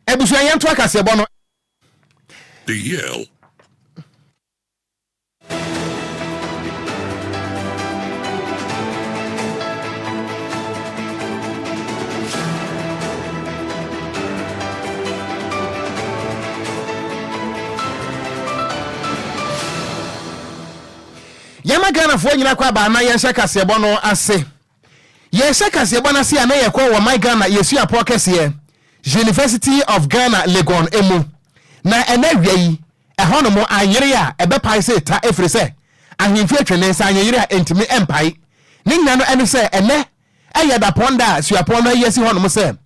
Abusua yɛnto akaseɛbɔ no. The Yale yɛma ghanafoɔ nyina kɔ abaa na yɛnhyɛ kaseɛbɔ no ase Yɛrehyɛ kaseɛbɔ no ase a na yɛkɔ wɔ My Ghana Yɛsua Pɔ Kɛseɛ, University of Ghana Legon mu, na ɛnnɛ awia yi ɛhɔnom ayere a ɛbɛpae sɛ ta ɛfiri sɛ ahemfie atwa ne nsa anyeyere a ɛntumi mpae. Ne nyina no ɛne sɛ ɛnnɛ ɛyɛ dapɔn da a suapɔn no ayi asi hɔnom sɛ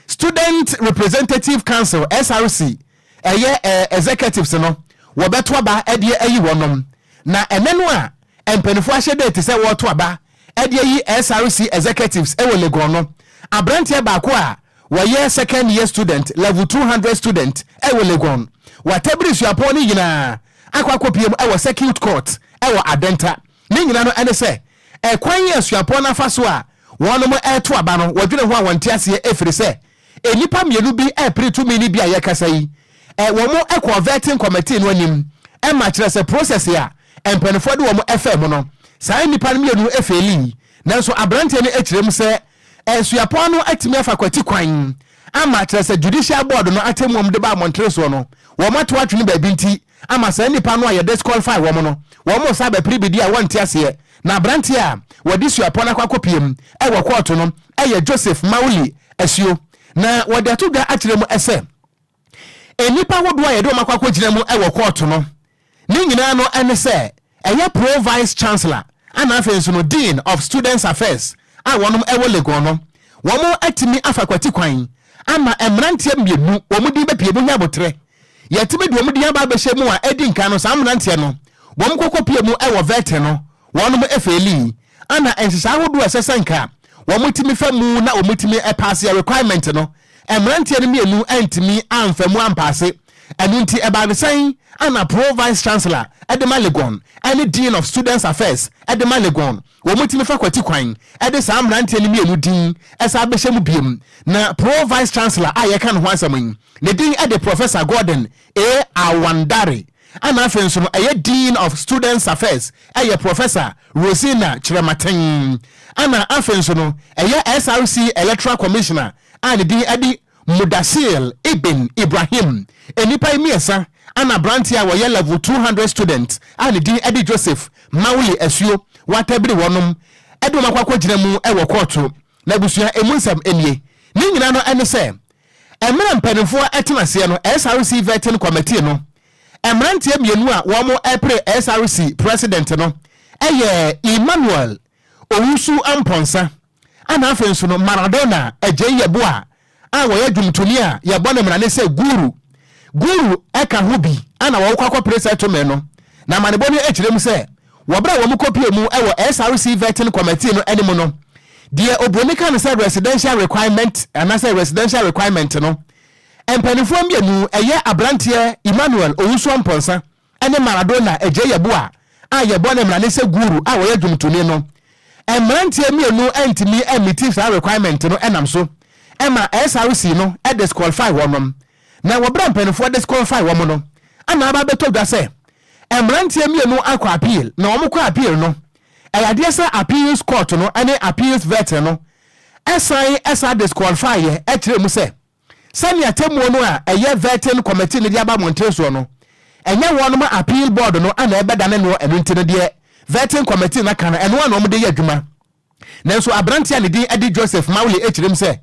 Student Representative Council, SRC, ɛyɛ Executives no wɔbɛto aba de ayi wɔnom. Na ɛnnɛ no a mpaninfoɔ ahyɛ date sɛ wɔreto aba de ayi SRC executives wɔ Legon no, aberanteɛ baako a wɔyɛ second year student, level two hundred student wɔ Legon, Watabiri suapɔn no nyinaa akɔ akɔpiem wɔ circuit court wɔ Adenta. Ne nyinaa no ne sɛ, ɛkwan a suapɔn no afa so a wɔnom reto aba no, wɔdwene ho a wɔnte aseɛ ɛfiri sɛ, Nnipa mmienu bi repere tumi no bi a yɛkasa yi wɔn kɔɔ vetting committee no anim ma kyerɛ sɛ process a mpaninfoɔ de wɔn faa mu no saa nnipa no mmienu feelii nanso abranteɛ no kyerɛ mu sɛ suapɔn no atumi afa kwati kwan ama kyerɛ sɛ judicial board no atemmuom de baa mɔnteresoɔ no wɔn ato atwene baabi nti ama saa nnipa no a yɛ disqualify wɔn no, wɔn nsa aba piribidi a wɔnte aseɛ, na aberanteɛ a wɔde suapɔn akɔ akɔpiam wɔ kɔɔto no yɛ Joseph Mawuli Asuo, na wɔde ato dwa akyerɛ mu sɛ nnipa ahodoɔ a yɛde wɔn akɔ akɔgyina mu wɔ kɔɔto no ne nyinaa no ne sɛ Ɛyɛ Pro Vice Chancellor ɛna afei nso no Dean of Students Affairs a wɔnom ɛwɔ Legon no, wɔn atumi afa kwati kwan ama mmeranteɛ mmienu wɔn din bɛpue mu nyɛ aboterɛ. Yɛatumi de wɔn din aba abɛhyɛ mu a edi nkan no saa mmeranteɛ no wɔn kɔkɔpue mu ɛwɔ Verte no wɔnom ɛfeelii Ana nhyehyɛe ahodoɔ a ɛsɛ sɛ nka wɔtumi fa mu na wɔtumi paase a requirement no, mmeranteɛ no mmienu antumi amfa mu ampaase, ɛno nti ɛbaa no sɛn? Ana Pro Vice Chancellor de ma Legon ne Dean of Students Affairs de ma Legon, wɔtumi fa kwati kwan de saa mmeranteɛ no mmienu din san bɛhyɛ mu bio, na Pro Vice Chancellor a yɛreka ne ho asɛm yi, ne din de Professor Gordon A. Awandare. ɛna afei nso no ɛyɛ Dean of Students Affairs ɛyɛ Professor Rosina Kyerematen, ɛna afei nso no ɛyɛ SRC Electoral Commissioner a ne din ɛde Mudasir Ibn Ibrahim, nnipa yi mmiɛsa ɛna abranteɛ a wɔyɛ Level two hundred student a ne din ɛde Joseph Mawuli Asuo wɔatabiri wɔnom ɛde wɔn akɔ akɔgyina mu ɛwɔ kɔɔto. N'abusua ɛmu nsɛm ɛnie, ne nyinaa no ɛne sɛ Mmerɛ mpaninfoɔ ɛtena aseɛ no SRC Vetting Committee no mmeranteɛ mmienu a wɔn ɛpere SRC President no ɛyɛ Emmanuel Owusu-Amponsah ɛna afei nso no Maradona Agyei Yeboah a wɔyɛ dwomtoni a yɛbɔ no mmarane sɛ Guru Guru ɛka ho bi ɛna wɔkɔ akɔpere sɛ tome no na amanebɔ no ɛkyerɛ mu sɛ Wɔ bere a wɔkɔpuee mu wɔ SRC Vetting Committee no anim no, deɛ oburoni ka no sɛ residential requirement anaasɛ residential requirement no, mpanimfoɔ mmienu, ɛyɛ aberanteɛ Emmanuel Owusu-Amponsah ne Maradona Adjei Yeboah a yɛbɔ ne mmara ne sɛ Guru a ɔyɛ dwomtoni no, mmeranteɛ mmienu antumi ammiti saa requirement no nam so ma SRC no disqualify wɔnom. Na wɔ bere a mpanyimfoɔ disqualify wɔn no, ɛna aba abɛtɔ dwa sɛ mmeranteɛ mmienu akɔ appeal, na wɔkɔ appeal no, ɛyɛ adeɛ sɛ appeals court no ne appeals verter no san san disqualifieɛ kyerɛɛ mu sɛ sɛnea atemmuo no a ɛyɛ verting committee no de aba mmɔnten soɔ no, ɛnyɛ wɔnom appeal board no na ɛbɛdane noɔ, ɛno nti no deɛ verting committee no aka no, ɛno ara na wɔde yɛ adwuma. Nanso aberante a ne din de Joseph Mawle kyerɛm sɛ,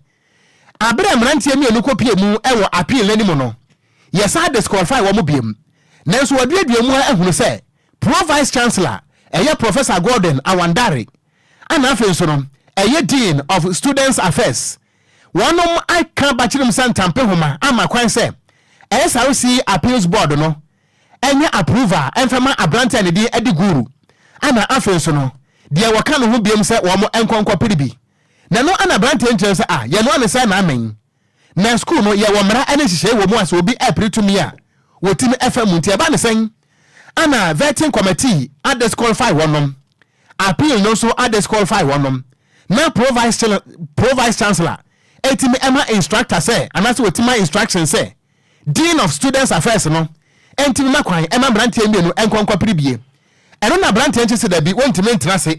Bere a mmeranteɛ mmienu kɔpuee mu wɔ appeal no anim no, yɛsan disqualify wɔn biom. Nanso wɔaduadua mu ara ahunu sɛ Pro Vice Chancellor, ɛyɛ Professor Gordon Awandare, a na afei nso no ɛyɛ Dean of Students Affairs, wɔnom aka Bakyirimsa ntampehoma ama kwan sɛ SRC Appeals Board no ɛnyɛ approval mfɛma aberante a ne din de Guru ɛna afei nso no deɛ wɔka ne ho biom sɛ wɔn nkɔ nkɔ pere bi na ɛno ɛna aberante nkyerɛ no sɛ ah yɛnoa no sɛ naamen na school no yɛwɔ mmara ɛne nhyehyɛe wɔ mu a sɛ obi ɛpere tumi a wɔtumi ɛfa mu nti ɛba ne sɛn ɛna vetting committee a disqualify wɔnom appeal no nso a disqualify wɔnom na pro vice chancellor ɛtumi ɛma instructor sɛ anaasɛ wɔtumi ma instruction sɛ Dean of Students Affairs no ntumi mma kwan mma mmeranteɛ mmienu nkɔ nkɔpere bie. Ɛno na aberanteɛ nkye sɛ dabi wɔntumi ntena ase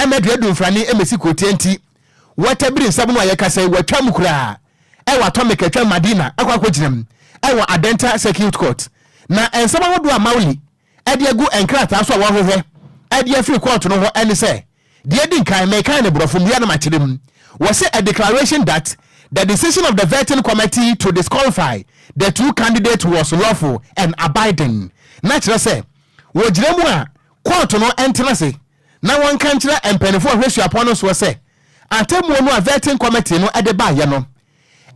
mma dua dumfrane mmɛsi kurotia nti, wɔatabiri nsɛm no a yɛkasa yi, wɔatwa mu koraa wɔ Atomic a ɛtwa Madina akɔ akɔgyina mu wɔ Adenta Circuit Court. Na nsɛm ahodoɔ a Mauli de agu nkrataa so a wɔahwehwɛ de afiri kɔɔto no hɔ ne sɛ, deɛ edi nkan, mekan no Borɔfo mu yɛ na makyerɛ mu, wɔse a declaration that the decision of the vetting committee to disqualify the two candidates was lawful and abiding, na kyerɛ sɛ, wɔgyina mu a kɔɔto no ntena ase na wɔnka nkyerɛ mpaninfoɔ a wɔhwɛ suapɔn no soɔ sɛ, atemmuo no a vetting committee no de baeɛ no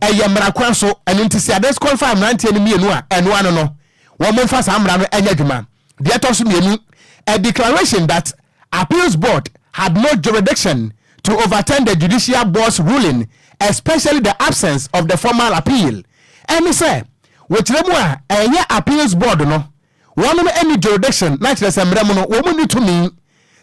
Ɛyɛ mmara kwan so, ɛno nti sɛ ade kɔn fa mmeranteɛ no mmienu a, ɛno ano no, wɔn mfa saa mmara no nyɛ adwuma. Deɛ ɛtɔ so mmienu, a declaration that Appeals Board had no jurisdiction to overturn the Judicial Board's ruling, especially the absence of the formal appeal, ɛne sɛ, wɔ kyerɛ mu a, ɛnyɛ Appeals Board no Wɔnom nni jurisdiction, na kyerɛ sɛ mmerɛ mu no wɔn nni tumi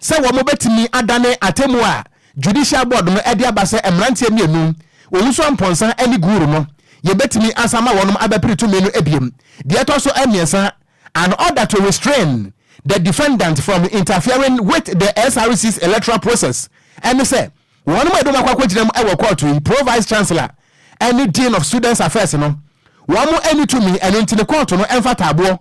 sɛ wɔn bɛtumi adane atemmuo a Judicial Board no de aba sɛ mmeranteɛ mmienu, Owusu-Amponsah ne Guru no, yɛbɛtumi asan ama wɔnom abɛpere tumi no biom. Deɛ ɛtɔ so mmiɛnsa, an order to restrain the defendant from interfering with the SRC's electoral process, ɛne sɛ, Wɔn mu ebinom akɔ akogyina mu wɔ kɔɔto yi, Pro Vice Chancellor ne Dean of Students Affairs no, wɔn nni tumi, ɛno nti no kɔɔto no mfata aboɔ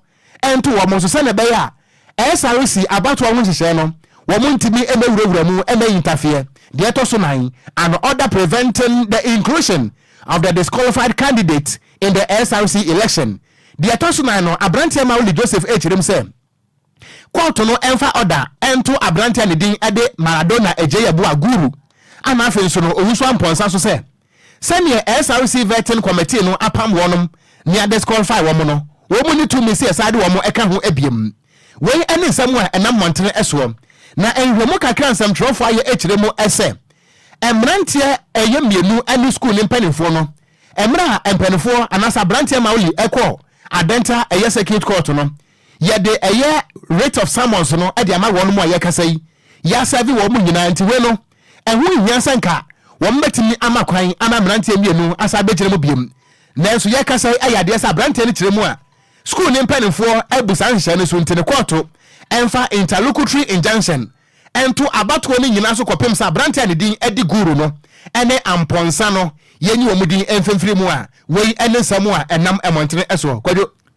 nto wɔn so sɛnea ɛbɛyɛ a SRC abatoɔ ho nhyehyɛe no wɔn ntumi mmɛwurawura mu mmɛyi ntafeɛ deɛ ɛtɔ so nan, an order preventing the inclusion of the disqualified candidate in the SRC election deɛ ɛtɔ so nan no, Aberanteɛ Mawuli Joseph kyerɛm sɛ. Kɔɔto no mfa ɔda nto aberante a ne din de Maradona Adjei-Yeboah Guru a n'afe nso no ɔwusoa mpɔnsa so sɛ sɛdeɛ SRC Vetting Committee no apam wɔnom ne a disqualify wɔn no, wɔn nni tumi sɛ yɛsan de wɔn ka ho biom. Wei ne nsɛm a ɛnam mmɔntene soɔ na nhwehwɛmu kakra a nsɛmtwerɛfoɔ ayɛ kyerɛ mu sɛ mmeranteɛ ɛyɛ mmienu ne sukuu no mpanimfoɔ no mmerɛ a mpaninfoɔ anaasɛ aberanteɛ Mauli kɔɔ Adenta ɛyɛ circuit court no Yɛde ɛyɛ Writ of Summons no de ama wɔnom a yɛrekasa yi. Yɛasɛɛve wɔnom nyinaa, nti wei no, ɛho nhia sɛ nka wɔbɛtumi ama kwan ama mmeranteɛ mmienu asan abɛgyina mu biom. Nanso yɛrekasa yi ayɛ adeɛ sɛ aberanteɛ no kyerɛ mu a sukuu no mpanimfoɔ abu saa nhyehyɛe no so nti no, kɔɔto mfa interlocutory injunction nto abatoɔ no nyinaa so kɔpem sɛ aberanteɛ a ne din de Guru no ne Amponsah no yɛnyi wɔn din mfimfiri mu a wei ne nsɛm a ɛnam mmɔntene soɔ. Kwadwo.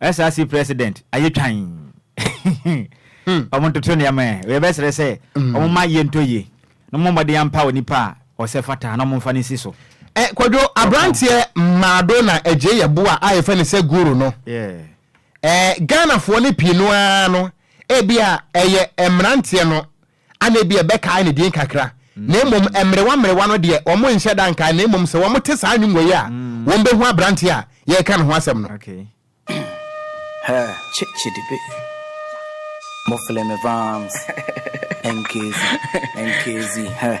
SRC president ayɛ twann wɔn ntoto nneɛma ɛ wei bɛsrɛ sɛ wɔn mma ayie ntɔ yie na wɔn mmɔden ampa onipa a ɔsɛ fata na wɔn mfa no nsi so. Ɛ kwadwo abranteɛ maado na agye yɛ bo a a yɛfɛ ne sɛ guru no ɛ Ghanafoɔ no pii no ara no ebi a ɛyɛ mmranteɛ no Ana ebia ɛbɛkae ne din kakra, na mmom mmerewa mmerewa no deɛ, wɔnhyɛ da nkae, na mmom sɛ wɔte saa nnwom wei a, wɔbɛhu aberanteɛ a yɛreka ne ho asɛm no. Hɛ kye kye di be Mo fle me vams Nkezi Nkezi hɛ.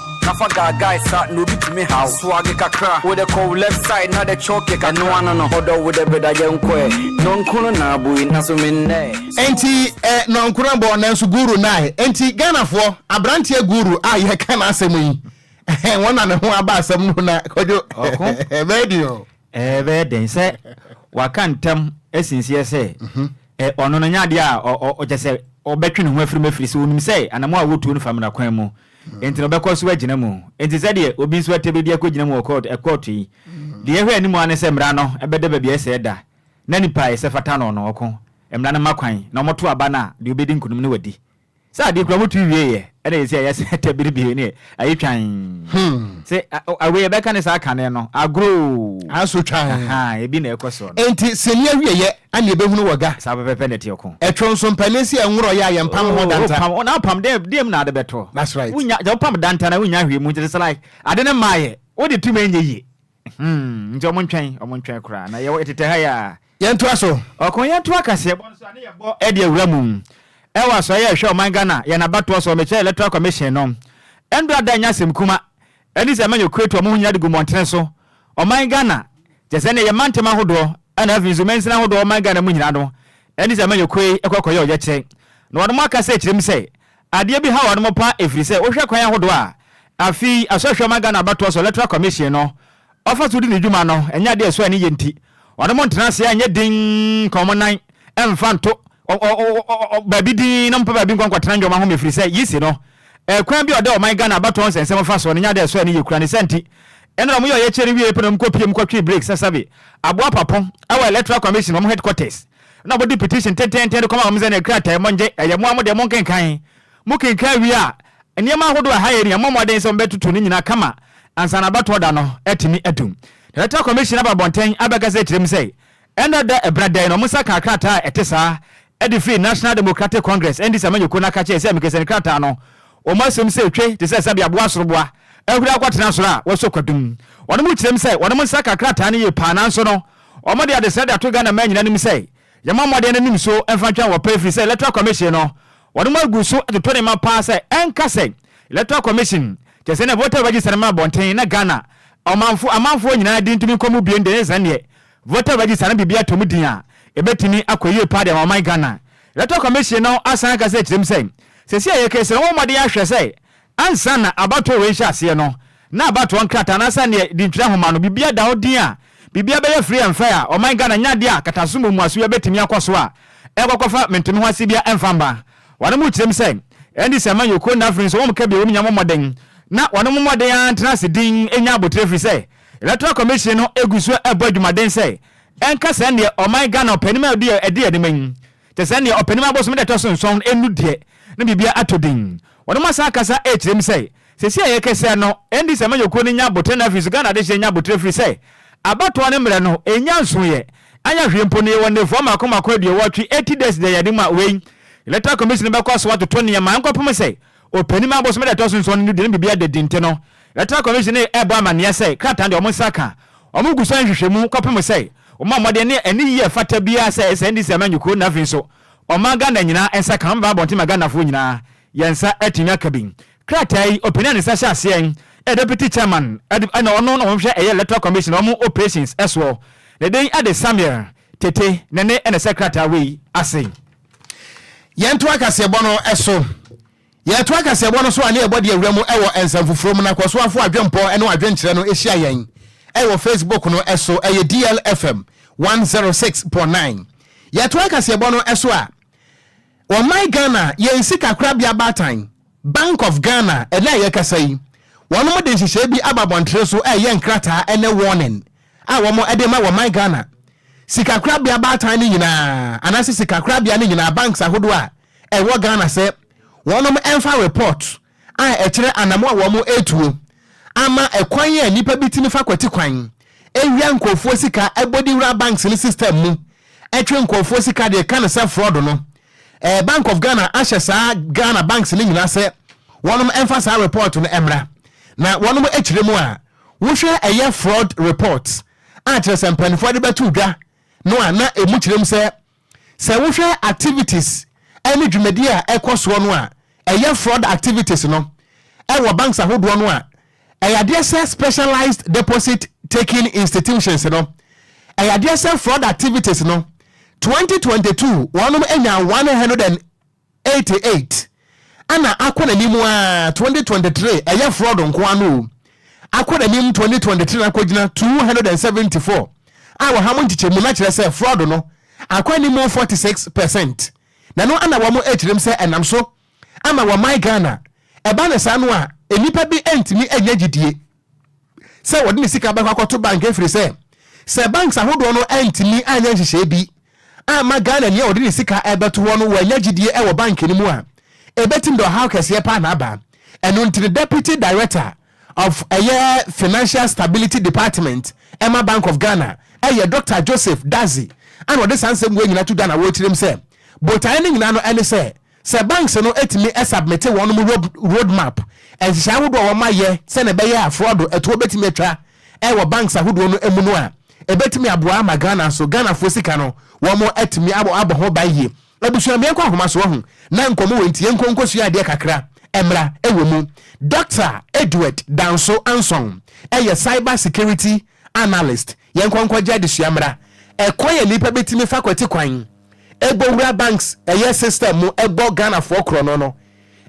Na fa guy guy sa na obi tumi ha wo Swag kakra, wo dɛ kɔ wo left side na dɛ choke kakra Ɛno ano no, ɔdɔ wo dɛ breda yɛnkɔ ɛ Nɔnko no na abɔ yi, naso me nnɛ ɛ. Enti ɛ nɔnko no bɔ nanso guru nna ɛ Enti Ghanafoɔ, abranteɛ guru a yɛreka n'asɛm yi, ɛhɛn wɔn na ne ho aba asɛm no na Kwadwo, Ɔko, ɛbɛyɛ den o. Ɛbɛyɛ den sɛ waka ntam asi nseɛ sɛ ɛ ɔno no nyɛ adeɛ a ɔ ɔ ɔkyerɛ sɛ ɔbɛtwe ne ho afiri mu ɛfiri sɛ ɔnim sɛ anammɔn a wɔretuo no fa mmara kwan mu enti na ɔbɛkɔ so agyina mu. Enti sɛdeɛ obi nso ate bɛ bi akɔgyina mu wɔ kɔɔto, ɛkɔɔto yi, deɛ ɛhwɛ anim ara ne sɛ mmara no bɛda baabi a ɛsɛ ɛda, na nipa a ɛsɛ fata no no, ɔko, mmara no ma kwan, na wɔto aba no a, deɛ ɔbɛdi nkonim no wadi. Sɛ adeɛ kura wɔto wieeɛ, ɛna yɛsi a yɛsɛ ɛtɛ bere bio ne ayi twan. Sɛ a, wei yɛbɛka ne saa kane no, agorɔ oo, Asotwan. ahaa, ebi na ɛkɔ soɔ no. Enti sini awieɛ a neɛ bɛhunu wɔ ga. Saa pɛpɛpɛ na ɛteɛ ko. Ɛtwɔ nso mpanin se ɛnworɔ yɛ a yɛ mpam ho danta. Oh wopam, na wopam dɛ, deɛ mu na ade bɛtɔ? That's right. Wonya, sɛ wopam danta no a wonnya hwee mu nti it's like ade no mmaeɛ, wode tum ɛnyɛ yie. Hmm, nti ɔmo ntwɛn, ɔmo ntwɛn koraa na yɛwɔ yɛtetɛ ha yi a. Yɛntoa so. Ɔko yɛnto akaseɛbɔ nso a ne yɛbɔ ɛde awura mu. Ɛwɔ asoɛeɛ a ɛhwɛ ɔman Ghana, yɛn abatoɔ so, ɔmekyerɛ Electoral Commission no. Ɛndɔ ada nnyɛ asɛm kuma, Ɛne sɛ manya kuretu a ɔmo ho nyina de gu mmɔntene so, ɔman Ghana, kyerɛ sɛ ɛneɛ yɛ mantam ahodoɔ ɛna afei nso mansini ahodoɔ ɔman Ghana mu nyina no, ɛne sɛ manya kue kɔ kɔyɛ ɔyɛkyerɛ. Na wɔnom aka sɛ kyerɛ mu sɛ adeɛ bi ha wɔnom paa ɛfiri sɛ wohwɛ kwan ahodoɔ a afei asɔhwɛ ɔman Ghana abatoɔ so Electoral Commission no ɔfa so di ne dwuma no nyɛ ade a ɛsɔ ani yɛ nti, wɔne mo ntena ase nyɛ dinn nka wɔn nan mfa nto baabi dinn na mompa baabi nkɔ nkɔtena nnoɔma ho mefiri sɛ yi si no kwan bi a ɔda ɔman Ghana abatoɔ nsɛnsɛm fa soɔ no nyɛ ade a ɛsɔ ani yɛ kura ne saa nti nnora mo yɛ ɔyɛkyerɛ no wieɛ pɛ na wɔn kɔ piem kɔtwee Blake Sasabe aboa Papo wɔ Electoral Commission wɔn headquarters na wɔde petition tententen de kɔma wɔn sɛ ne krataa mongye ɛyɛ mo a mo deɛ monkenkan Mokenkan wie a, nneɛma ahodoɔ a ɛha yɛn yi, yɛmmɔ mmɔden sɛ wɔbɛtoto ne nyinaa kama ansa na abatoɔ da no atumi adu. Director Commission aba abɔntɛn abɛkasa akyerɛ mu sɛ, ɛnnɛ da ɛberɛ dɛn na wɔn nsa kaa krataa a ɛte saa de firii National Democratic Congress, NDC amanyɔkuo no aka kyerɛɛ sɛ mekasani krataa no, wɔn asom sɛ etwe te sɛ sɛdeɛ aboa soroboa ahuri akɔtena soro a wɔasɔ kwadum. Wɔnom kyerɛm sɛ wɔnom nsa kaa krataa no yie paa nanso no, wɔde adesrɛ de ato Ghana mmaa nyinaa anim sɛ, Yɛmmɔ mmɔden no anim so mfa ntwɛn wɔ pɛ ɛfiri sɛ Electoral Commission no wɔde wɔn agu so atoto ne mma paa sɛ ɛnka sɛ Electoral Commission kyerɛ sɛnea voter register no ma abɔnten na Ghana ɔmanfo amanfoɔ nyinaa din ntumi nkɔ mu bio no deɛ ɛnyɛ sɛdeɛ voter register no biribi atɔ mu din a ɛbɛtumi akɔ yie paa de ama ɔman Ghana. Electoral Commission no asan aka sɛ kyerɛ mu sɛ seesei a yɛkasa yi wɔmmɔ mmɔden ahwɛ sɛ Ansa na abatoɔ wei rehyɛ aseɛ no, na abatoɔ nkrataa anaasɛ neɛ di ntwerɛ nwoma no, biribiara da hɔ dinn a biribiara bɛyɛ free and fair a ɔman Ghana nyɛ adeɛ a kataso mu mmuasoyɛ bɛtumi akɔ so a ɛnkɔkɔfa mentemeho ase biara mfa mma. Wɔnom kyerɛ mu sɛ, ɛnde sɛ man yɛ okuo nnɛ afei nso wɔn ka bi a wɔn nya mmɔ mmɔden na wɔnom mmɔden ara ntena ase dinn nnya abotire ɛfiri sɛ Electoral Commission no gu so bɔ adwumaden sɛ ɛnka sɛndeɛ ɔman Ghana ɔpanim a ɔdi ɛde anim yi Te sɛ nea ɔpanin abosom da a ɛtɔ so nson no deɛ, na biribiara atɔ din. Wɔnom asan aka saa akyerɛ mu sɛ, Seesei a yɛrekasa no, ɛnde sɛ amanyɔkuo no nya aboterɛ na afei nso Ghana adehyeɛ nya aboterɛ ɛfiri sɛ abatoɔ no mmerɛ no ɛnnya nsoeɛ anyɛ hwee mpo no yɛwɔ nnafua mmaako mmaako aduɔwɔtwe, eighty days, deɛ yɛde mu a wei Electoral Commission bɛkɔ so atoto nneɛma nkɔpem sɛ Ɔpanim a bosome da ɛtɔ so nson no duru no biribi ada di nti no Electoral Commission no rebɔ amanneɛ sɛ krataa no deɛ wɔn nsa aka. Wɔn gu so nhwehwɛmu kɔpem sɛ wɔma mmɔden ne ani yie a ɛfata biara sɛ ɛsɛ NDC amanyɔ kuo no afei nso wɔma Ghana nyinaa nsa ka. Wɔbɛba abɔnten ma Ghanafoɔ nyinaa yɛn nsa atumi aka bi. Krataa yi ɔpanin a ne nsa hyɛ aseɛ yɛ Deputy Chairman ɛna ɔno na ɔhwɛ ɛyɛ Electoral Commission wɔn operations soɔ ne din ɛde Samuel Tetteh Nene ɛna ɛhyɛ krataa wei ase. Yɛntoa kaseɛbɔ no so. Yɛtoa kaseɛbɔ no so a ne yɛbɔ de awura mu wɔ nsɛmfoforo mu na kɔsoafo adwempɔ ne adwenkyerɛ no hyia yɛn wɔ Facebook no so, ɛyɛ DLFM 106.9. Yɛtoa kaseɛbɔ no so a ɔman Ghana yɛn sikakorabea baatan, Bank of Ghana, ɛnɛ a yɛkasa yi, wɔnom de nhyehyɛe bi aba abɔntene so ɛyɛ nkrataa ne warning a wɔde rema wɔ ɔman Ghana sikakorabea baatan no nyinaa anaasɛ sikakorabea no nyinaa banks ahodoɔ a ɛwɔ Ghana sɛ wɔn mfa report a ɛkyerɛ anamoa a wɔn retuo ama ɛkwan a nipa bi tumi fa kwati kwan wia nkorɔfoɔ sika bɔ de wura banks no system mu twe nkorɔfoɔ sika de ka no sɛ fraud no eh, Bank of Ghana ahyɛ saa Ghana banks no nyinaa sɛ wɔnom mfa saa report no mmra na wɔnom akyire mu a Wohwɛ ɛyɛ fraud report a kyerɛ sɛ mpaninfoɔ de bɛto dwa no a na ɛmu kyerɛ mu sɛ sɛ wohwɛ activities ne dwumadie a ɛkɔ soɔ no a ɛyɛ fraud activities no wɔ banks ahodoɔ no a ɛyɛ adeɛ sɛ specialized deposit taking institutions no ɛyɛ adeɛ sɛ fraud activities no 2022 wɔnom nyaa 100 and eighty eight ɛna akɔ nanim aa twenty twenty three ɛyɛ fraud nkoa no oo akɔ nanim twenty twenty three na akɔgyina two hundred and seventy four a wɔ ha mo nkyekyɛmu na kyerɛ sɛ fraud no akɔ anim forty six percent na no ɛna wɔn ɛkyerɛm sɛ ɛnam so ama wɔ my Ghana ɛba ne saa no a nnipa bi ɛntumi ɛnya gyidie sɛ wɔde ne sika bɛkɔ akɔto bank ɛfiri sɛ, sɛ banks ahodoɔ no antumi anyɛ nhyehyɛe bi amma Ghanani a ɔde ne sika rebɛto hɔ no wannya gyidie ɛwɔ bank no mu a, ɛbɛtim de ɔhaw kɛseɛ paa na aba. Ɛno nti no Deputy Director of ɛyɛ Financial Stability Department ɛma Bank of Ghana ɛyɛ Doctor Joseph Dadzie ɛna ɔde saa nsɛm wei nyinaa to dwa na wɔrekyerɛm sɛ botaeɛ no nyinaa no ɛne sɛ Sɛ banks no tumi submit wɔn road map, nhyehyɛe ahodoɔ a wɔayɛ sɛnea ɛbɛyɛ a frɔdo ɛtoɔ bɛtumi atwa wɔ banks ahodoɔ no mu no a, ɛbɛtumi aboa ama Ghana nso Ghanafoɔ sika no wɔatumi abɔ ho ban yie. Abusua meɛnkɔ ahoma so wahu na nkɔmmɔ wei nti yɛnkɔ nkɔsua adeɛ kakra mmra wɔ mu. Doctor Edward Danso Anson yɛ Cyber Security Analyst. Yɛnkɔ nkɔgye adesua mmra. Ɛkwan a nnipa bɛtumi fa kwati kwan. ɛbɔ wura banks ɛyɛ system mu ɛbɔ Ghanafoɔ korɔno no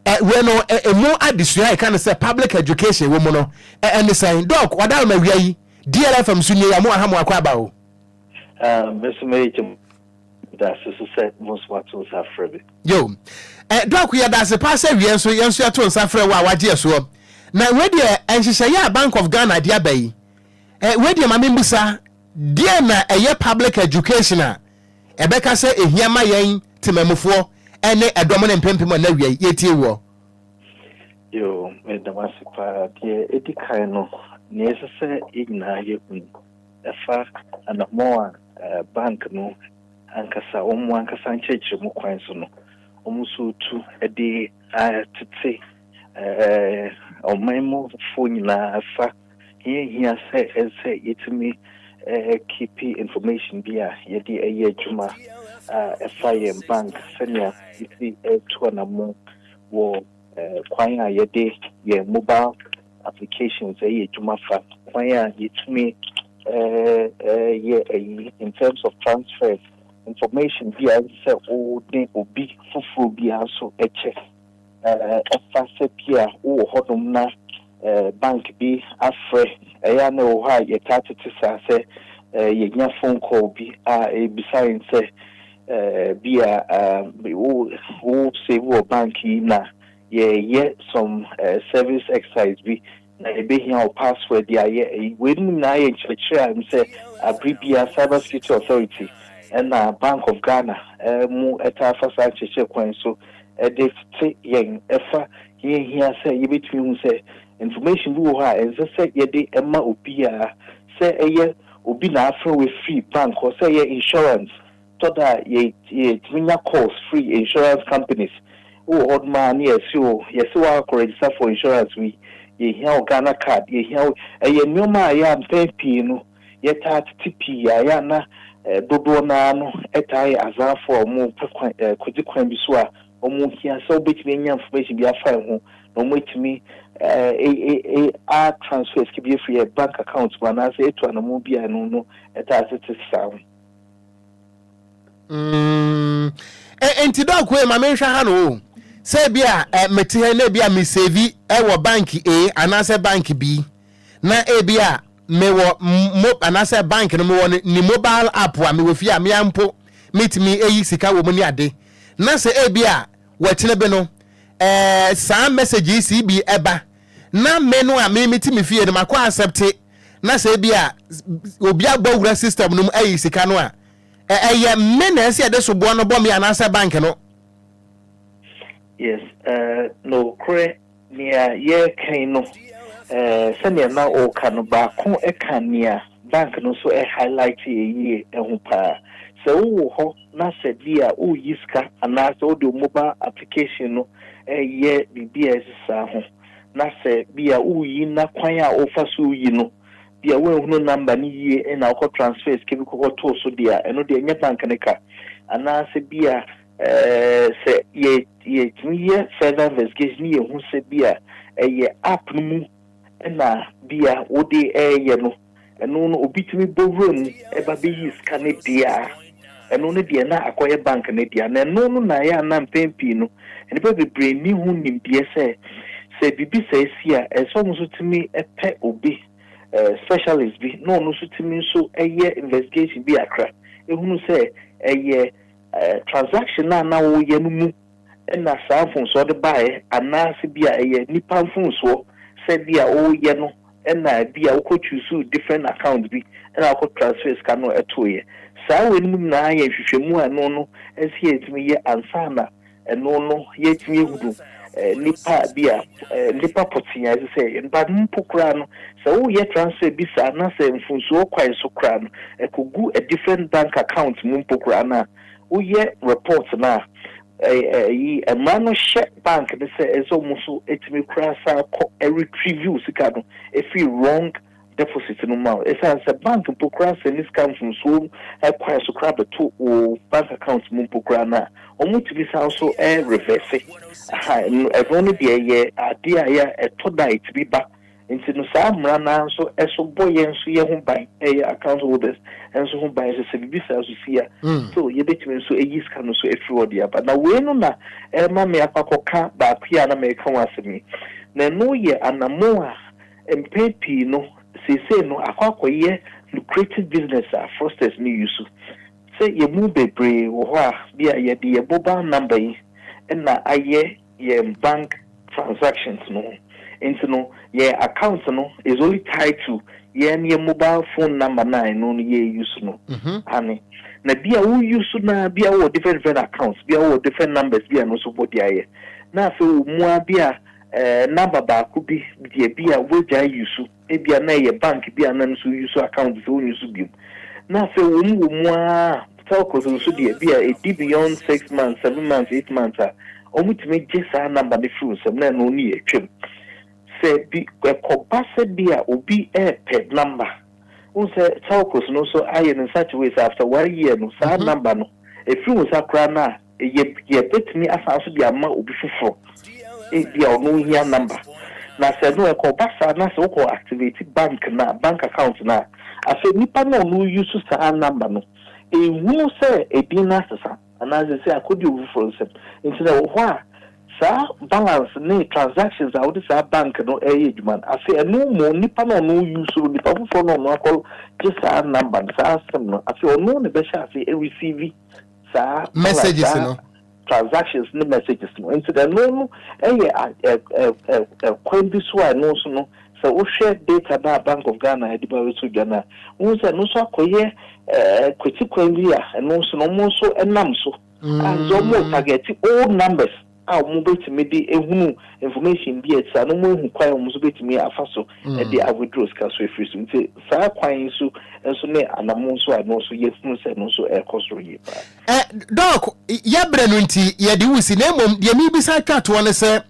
ɛ wɛ no ɛ ɛmu adesua ɛka no sɛ public education wɔ mu no ɛ ɛne sɛn? Doc, wadaworo ma wia yi, DLFM nso nie, yɛamo aha mo akɔ aba o. Ah, me nso mɛyɛ gye mo dase so sɛ mo nso moato nsa afrɛ me. Yo. Ɛ Doc, yɛda ase paa sɛ wia nso yɛn nso yɛto nsa frɛ wo a wagye ɛsoɔ. Na wei deɛ ɛ nhyehyɛeɛ a Bank of Ghana de aba yi, ɛ wei deɛ ma membisa, deɛn na ɛyɛ public education a, Ɛbɛka sɛ ehia ma yɛn temanmufoɔ ne ɛdɔm no mpempem a na awiai yɛretie woɔ. Yoo, meda mo ase paa. Deɛ ɛdi kan no, nea ɛsɛ sɛ yɛn nyinaa yɛhu no, ɛfa anammɔn a bank no ankasa, wɔn ankasa nkyerɛkyerɛmu kwan so no, wɔn nso retu de atete ɔman mufo nyinaa fa Ɛyɛ hia sɛ sɛ yɛtumi keepi information bi a yɛde ɛyɛ adwuma a ɛfa yɛn bank sɛnea yɛsi tu anamo wɔ kwan a yɛde yɛn mobile applications ɛyɛ adwuma fa, kwan a yɛtumi yɛ ɛyi in terms of transfers, information bi a ɛsɛ sɛ wode obi foforɔ biara nso kyɛ. Ɛfa sɛ bi a wowɔ hɔnom na bank bi afrɛ. Ɛyɛ a na ɛwɔ hɔ a yɛtaa tete saa sɛ yɛnya phone call bi a ɛrebisa yɛn sɛ bi a wo save wɔ bank yi na yɛreyɛ some service exercise bi. na yɛbɛhia wo password de ayɛ ɛyi. Wei nom nyinaa yɛ nkyerɛkyerɛ a ɛm sɛ abere biara Cyber Security Authority ɛna Bank of Ghana mo ɛtaa fa saa nkyerɛkyerɛ kwan yi so ɛde tete yɛn ɛfa yɛn hia sɛ yɛbɛtumi ahu sɛ information bi wɔ hɔ a ɛnsɛ sɛ yɛde ɛma obiara sɛ ɛyɛ obi na afrɛ wo ɛfiri bank hɔ, sɛ ɛyɛ insurance Tɔ da a, yetumi nya calls firi insurance companies. Wowɔ hɔ nom aa ne yɛse wo, yɛse wo akɔ register for insurance wei, yɛhia wo Ghana card, yɛhia wo. Ɛyɛ nnoɔma a ɛyɛ a mpɛn pii no yɛtaa tete pii a ɛyɛ a na dodoɔ no ara no taa yɛ azaafoɔ a wɔpɛ kwan, kɔdzi kwan bi so a wɔhia sɛ wobɛtumi anya information bi afa yɛn ho na wɔatumi a transfer sika bi afiri yɛn bank account mu anaasɛ atu anamɔn bi a ɛno no taa tete saa. Mm, e, nti dɔk wei ma menhwɛ ha no o sɛ bi a eh, mete ha na bi a mesevi eh, wɔ bank A anaasɛ bank B na ebi a mewɔ mo anaasɛ bank no mewɔ ne, ne mobile app a mewɔ fie a mea mpo metumi eyi sika wɔ mu ne ade na sɛ ebi a wɔkyene bi no eh, saa message yi si bi ɛba na me no a me mete me fie no makɔ accepte na sɛ ebi a obi abɔ wura system no mu ayi sika no a, ɛ ɛyɛ me na ɛsɛ yɛde soboɔ no bɔ me anaasɛ bank no? Yes, eh, nokorɛ nea yɛreka yi no, eh, sɛnea na ɔreka no, baako ka nea bank no nso highlighte yie ho paa. Sɛ wowɔ hɔ na sɛ bi a woreyi sika anaasɛ wode wo mobile application no reyɛ biribi a ɛte saa ho, na sɛ bi a woreyi na kwan a wofa so reyi no, bi a woanhunu number no yie na wokɔ transfer sika bi kɔkɔtoo so deɛ a, ɛno deɛ ɛnyɛ bank no ka. Anaasɛ bi a sɛ yɛ yɛtumi yɛ further investigation ne yɛhu sɛ bi a ɛyɛ app no mu na bi a wode reyɛ no. Ɛno no obi tumi bɔ wura mu ba bɛyi sika no deɛ a, ɛno no deɛ na akɔyɛ bank no dea. Na ɛno no na ɛyɛ a na mpɛn pii no nnipa bebree nni ho nimdeɛ sɛ, sɛ biribi saa si a, ɛsɛ sɛ wɔn nso tumi pɛ obi, specialist bi na ɔno nso tumi nso yɛ investigation bi akra hunu sɛ ɛyɛ transaction a na woyɛ no mu na saa mfomsoɔ de baeɛ anaa sɛ bi a ɛyɛ nipa mfomsoɔ sɛ bi a woyɛ no na bi a wokɔ choosuu different account bi na wokɔ transfer sika no tooeɛ. Saa wei no mu nyinaa yɛ nhwehwɛmu a ɛno no ɛnsɛ yɛ ɛtumi yɛ ansa na ɛno no yɛ ɛtumi ahunu nipa bi a nipa pɔtee a ɛsɛ sɛ yɛ no. But mpo koraa no sɛ woyɛ transfer bi saa na sɛ mfomsoɔ kwan so koraa no ɛkɔ gu a different bank account mu mpo koraa no a, woyɛ report no a, ɛyi mmara no hyɛ bank no sɛ ɛsɛ wɔn nso tumi kura saa kɔ retrievew sika no efi wrong deposit no mu a ɛsan sɛ bank mpo kura sɛ ne sika mfomsoɔ kwan so kura bɛto wɔ bank account mu mpo kura no a wɔn tumi san so reverse ɛno no deɛ yɛ adeɛ a yɛ ɛtɔ da a ɛtumi ba. Nti no saa mmara no ara nso so bɔ yɛn nso yɛ ho ban, yɛ account holders nso ho ban sɛ sɛ biribi saa nso si a, so yɛbɛtumi nso ayi sika no nso afiri hɔ de aba. Na wei no na ɛrema me akɔ akɔka baako yi a na mereka ho asɛm yi. Na ɛno yɛ anammɔn a mpɛn pii no seesei no akɔ akɔyɛ lucrative business a fraudsters no use. Sɛ yɛn mu bebree wɔ hɔ a, bia yɛde yɛn mobile number yi na ayɛ yɛn bank transactions no ho ntsi no yɛn account no is only tied to yɛn yɛn mobile phone number no a eno no yɛ use no ane na bia wo use no ara bia wo wɔ different different accounts bia wo wɔ different numbers bia no so bɔ de ayɛ na afei wo mu ara bia ɛɛ number baako bi deɛ bia woagyae use. Ebia na ɛyɛ bank bi a na no so use account sɛ wonni so biom. Na sɛ wɔm wɔ mu ara a, telcos nso deɛ ebia ɛdi beyond six months, seven months, eight months a, wɔtumi gye saa number no firi wo nsam na ɛno ne atwam. Sɛ bi ɛkɔba sɛ bi a obi repɛ number, wohu sɛ telcos no nso ayɛ no in such a way sɛ after one year no saa number no ɛfiri wo nsa koraa no a, Yɛ, yɛbɛtumi asan nso de ama obi foforɔ, ebia ɔno hia number, na sɛ no ɛkɔ ba saa na sɛ wokɔ activate bank no a, bank account no a, afei nipa no a ɔno use saa number no nhunu sɛ edin no asesa anaa seesei akɔdi obi foforɔ nsam. Nti no ɛwɔ hɔ a saa balance ne transactions a wode saa bank no ɛreyɛ adwuma no, afei ɛno mmom nipa no a ɔno use no, nipa foforɔ no a ɔno akɔ gye saa number no, saa sim no, afei ɔno na ɛbɛhyɛ aseɛ ɛreceive, Saa ara na saa transactions ne messages no nti ɛno no yɛ kwan bi so a ɛno nso no sɛ wohwɛ data no a Bank of Ghana ɛde ba bɛto dwa no a, wohu sɛ ɛno nso akɔyɛ kwati kwan bi a ɛno nso no wɔn nso nam so a nso wɔn targeti old numbers. a wɔn bɛtumi de ahunu information bi a ɛte saa na wɔn ahu kwan a wɔn nso bɛtumi afa so de a withdraw sika so afiri so nti saa kwan yi so nso ne anamo nso a ɛno nso yɛhunu sɛ ɛno nso ɛrekɔ soro yie paa. Ɛ dɔɔk yɛbrɛ no nti yɛde wo si na mmom deɛ mebisa atwa toɔ no sɛ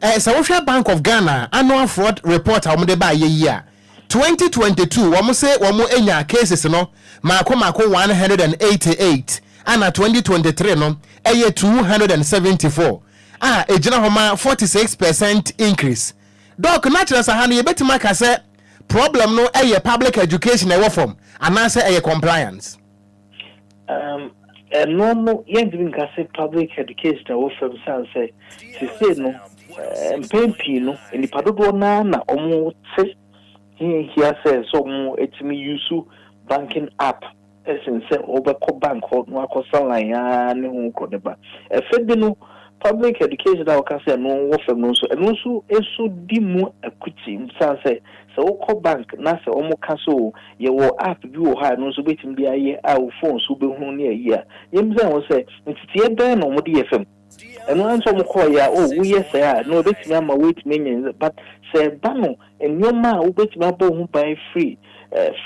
ɛ sɛ wohwɛ Bank of Ghana annual fraud report a wɔn de ba ayɛ yi a. Twenty twenty two wɔn se wɔn enya cases no maako maako one hundred and eighty eight ɛna twenty twenty three no ɛyɛ two hundred and seventy four a egyina hɔ ma forty six percent increase. Doc na kyerɛ sɛ ha no yɛbɛtumi aka sɛ problem no ɛyɛ public education a ɛwɔ fam anaasɛ ɛyɛ compliance? Um, ɛno no yɛntumi nka sɛ public education ɛwɔ fam san sɛ sesei no eh, mpɛn pii no nnipa dodoɔ no ara na wɔte hiahia sɛ sɛ wɔatumi yusu banking app ɛsen sɛ wɔbɛkɔ bank hɔ na wakɔsa line ara ne ho kɔ ne ba ɛfɛ bi no public education a wɔka sɛ ɛno wɔ fam no nso ɛno nso nso di mu akuti san sɛ sɛ wokɔ bank na sɛ wɔka so Yɛwɔ app bi wɔ hɔ a ɛno nso wobɛtumi de ayɛ a wo phone so wobɛhunu ne ayi a. Yɛmmisa wɔn sɛ, nteteɛ bɛn na wɔde yɛ fam? Ɛno ara nso wɔkɔeɛ a, oh, woyɛ sɛɛ a, ɛno ɛbɛtumi ama woatumi anya nsa. But sɛ ɛba no nneɛma a wobɛtumi abɔ wo ho ban firi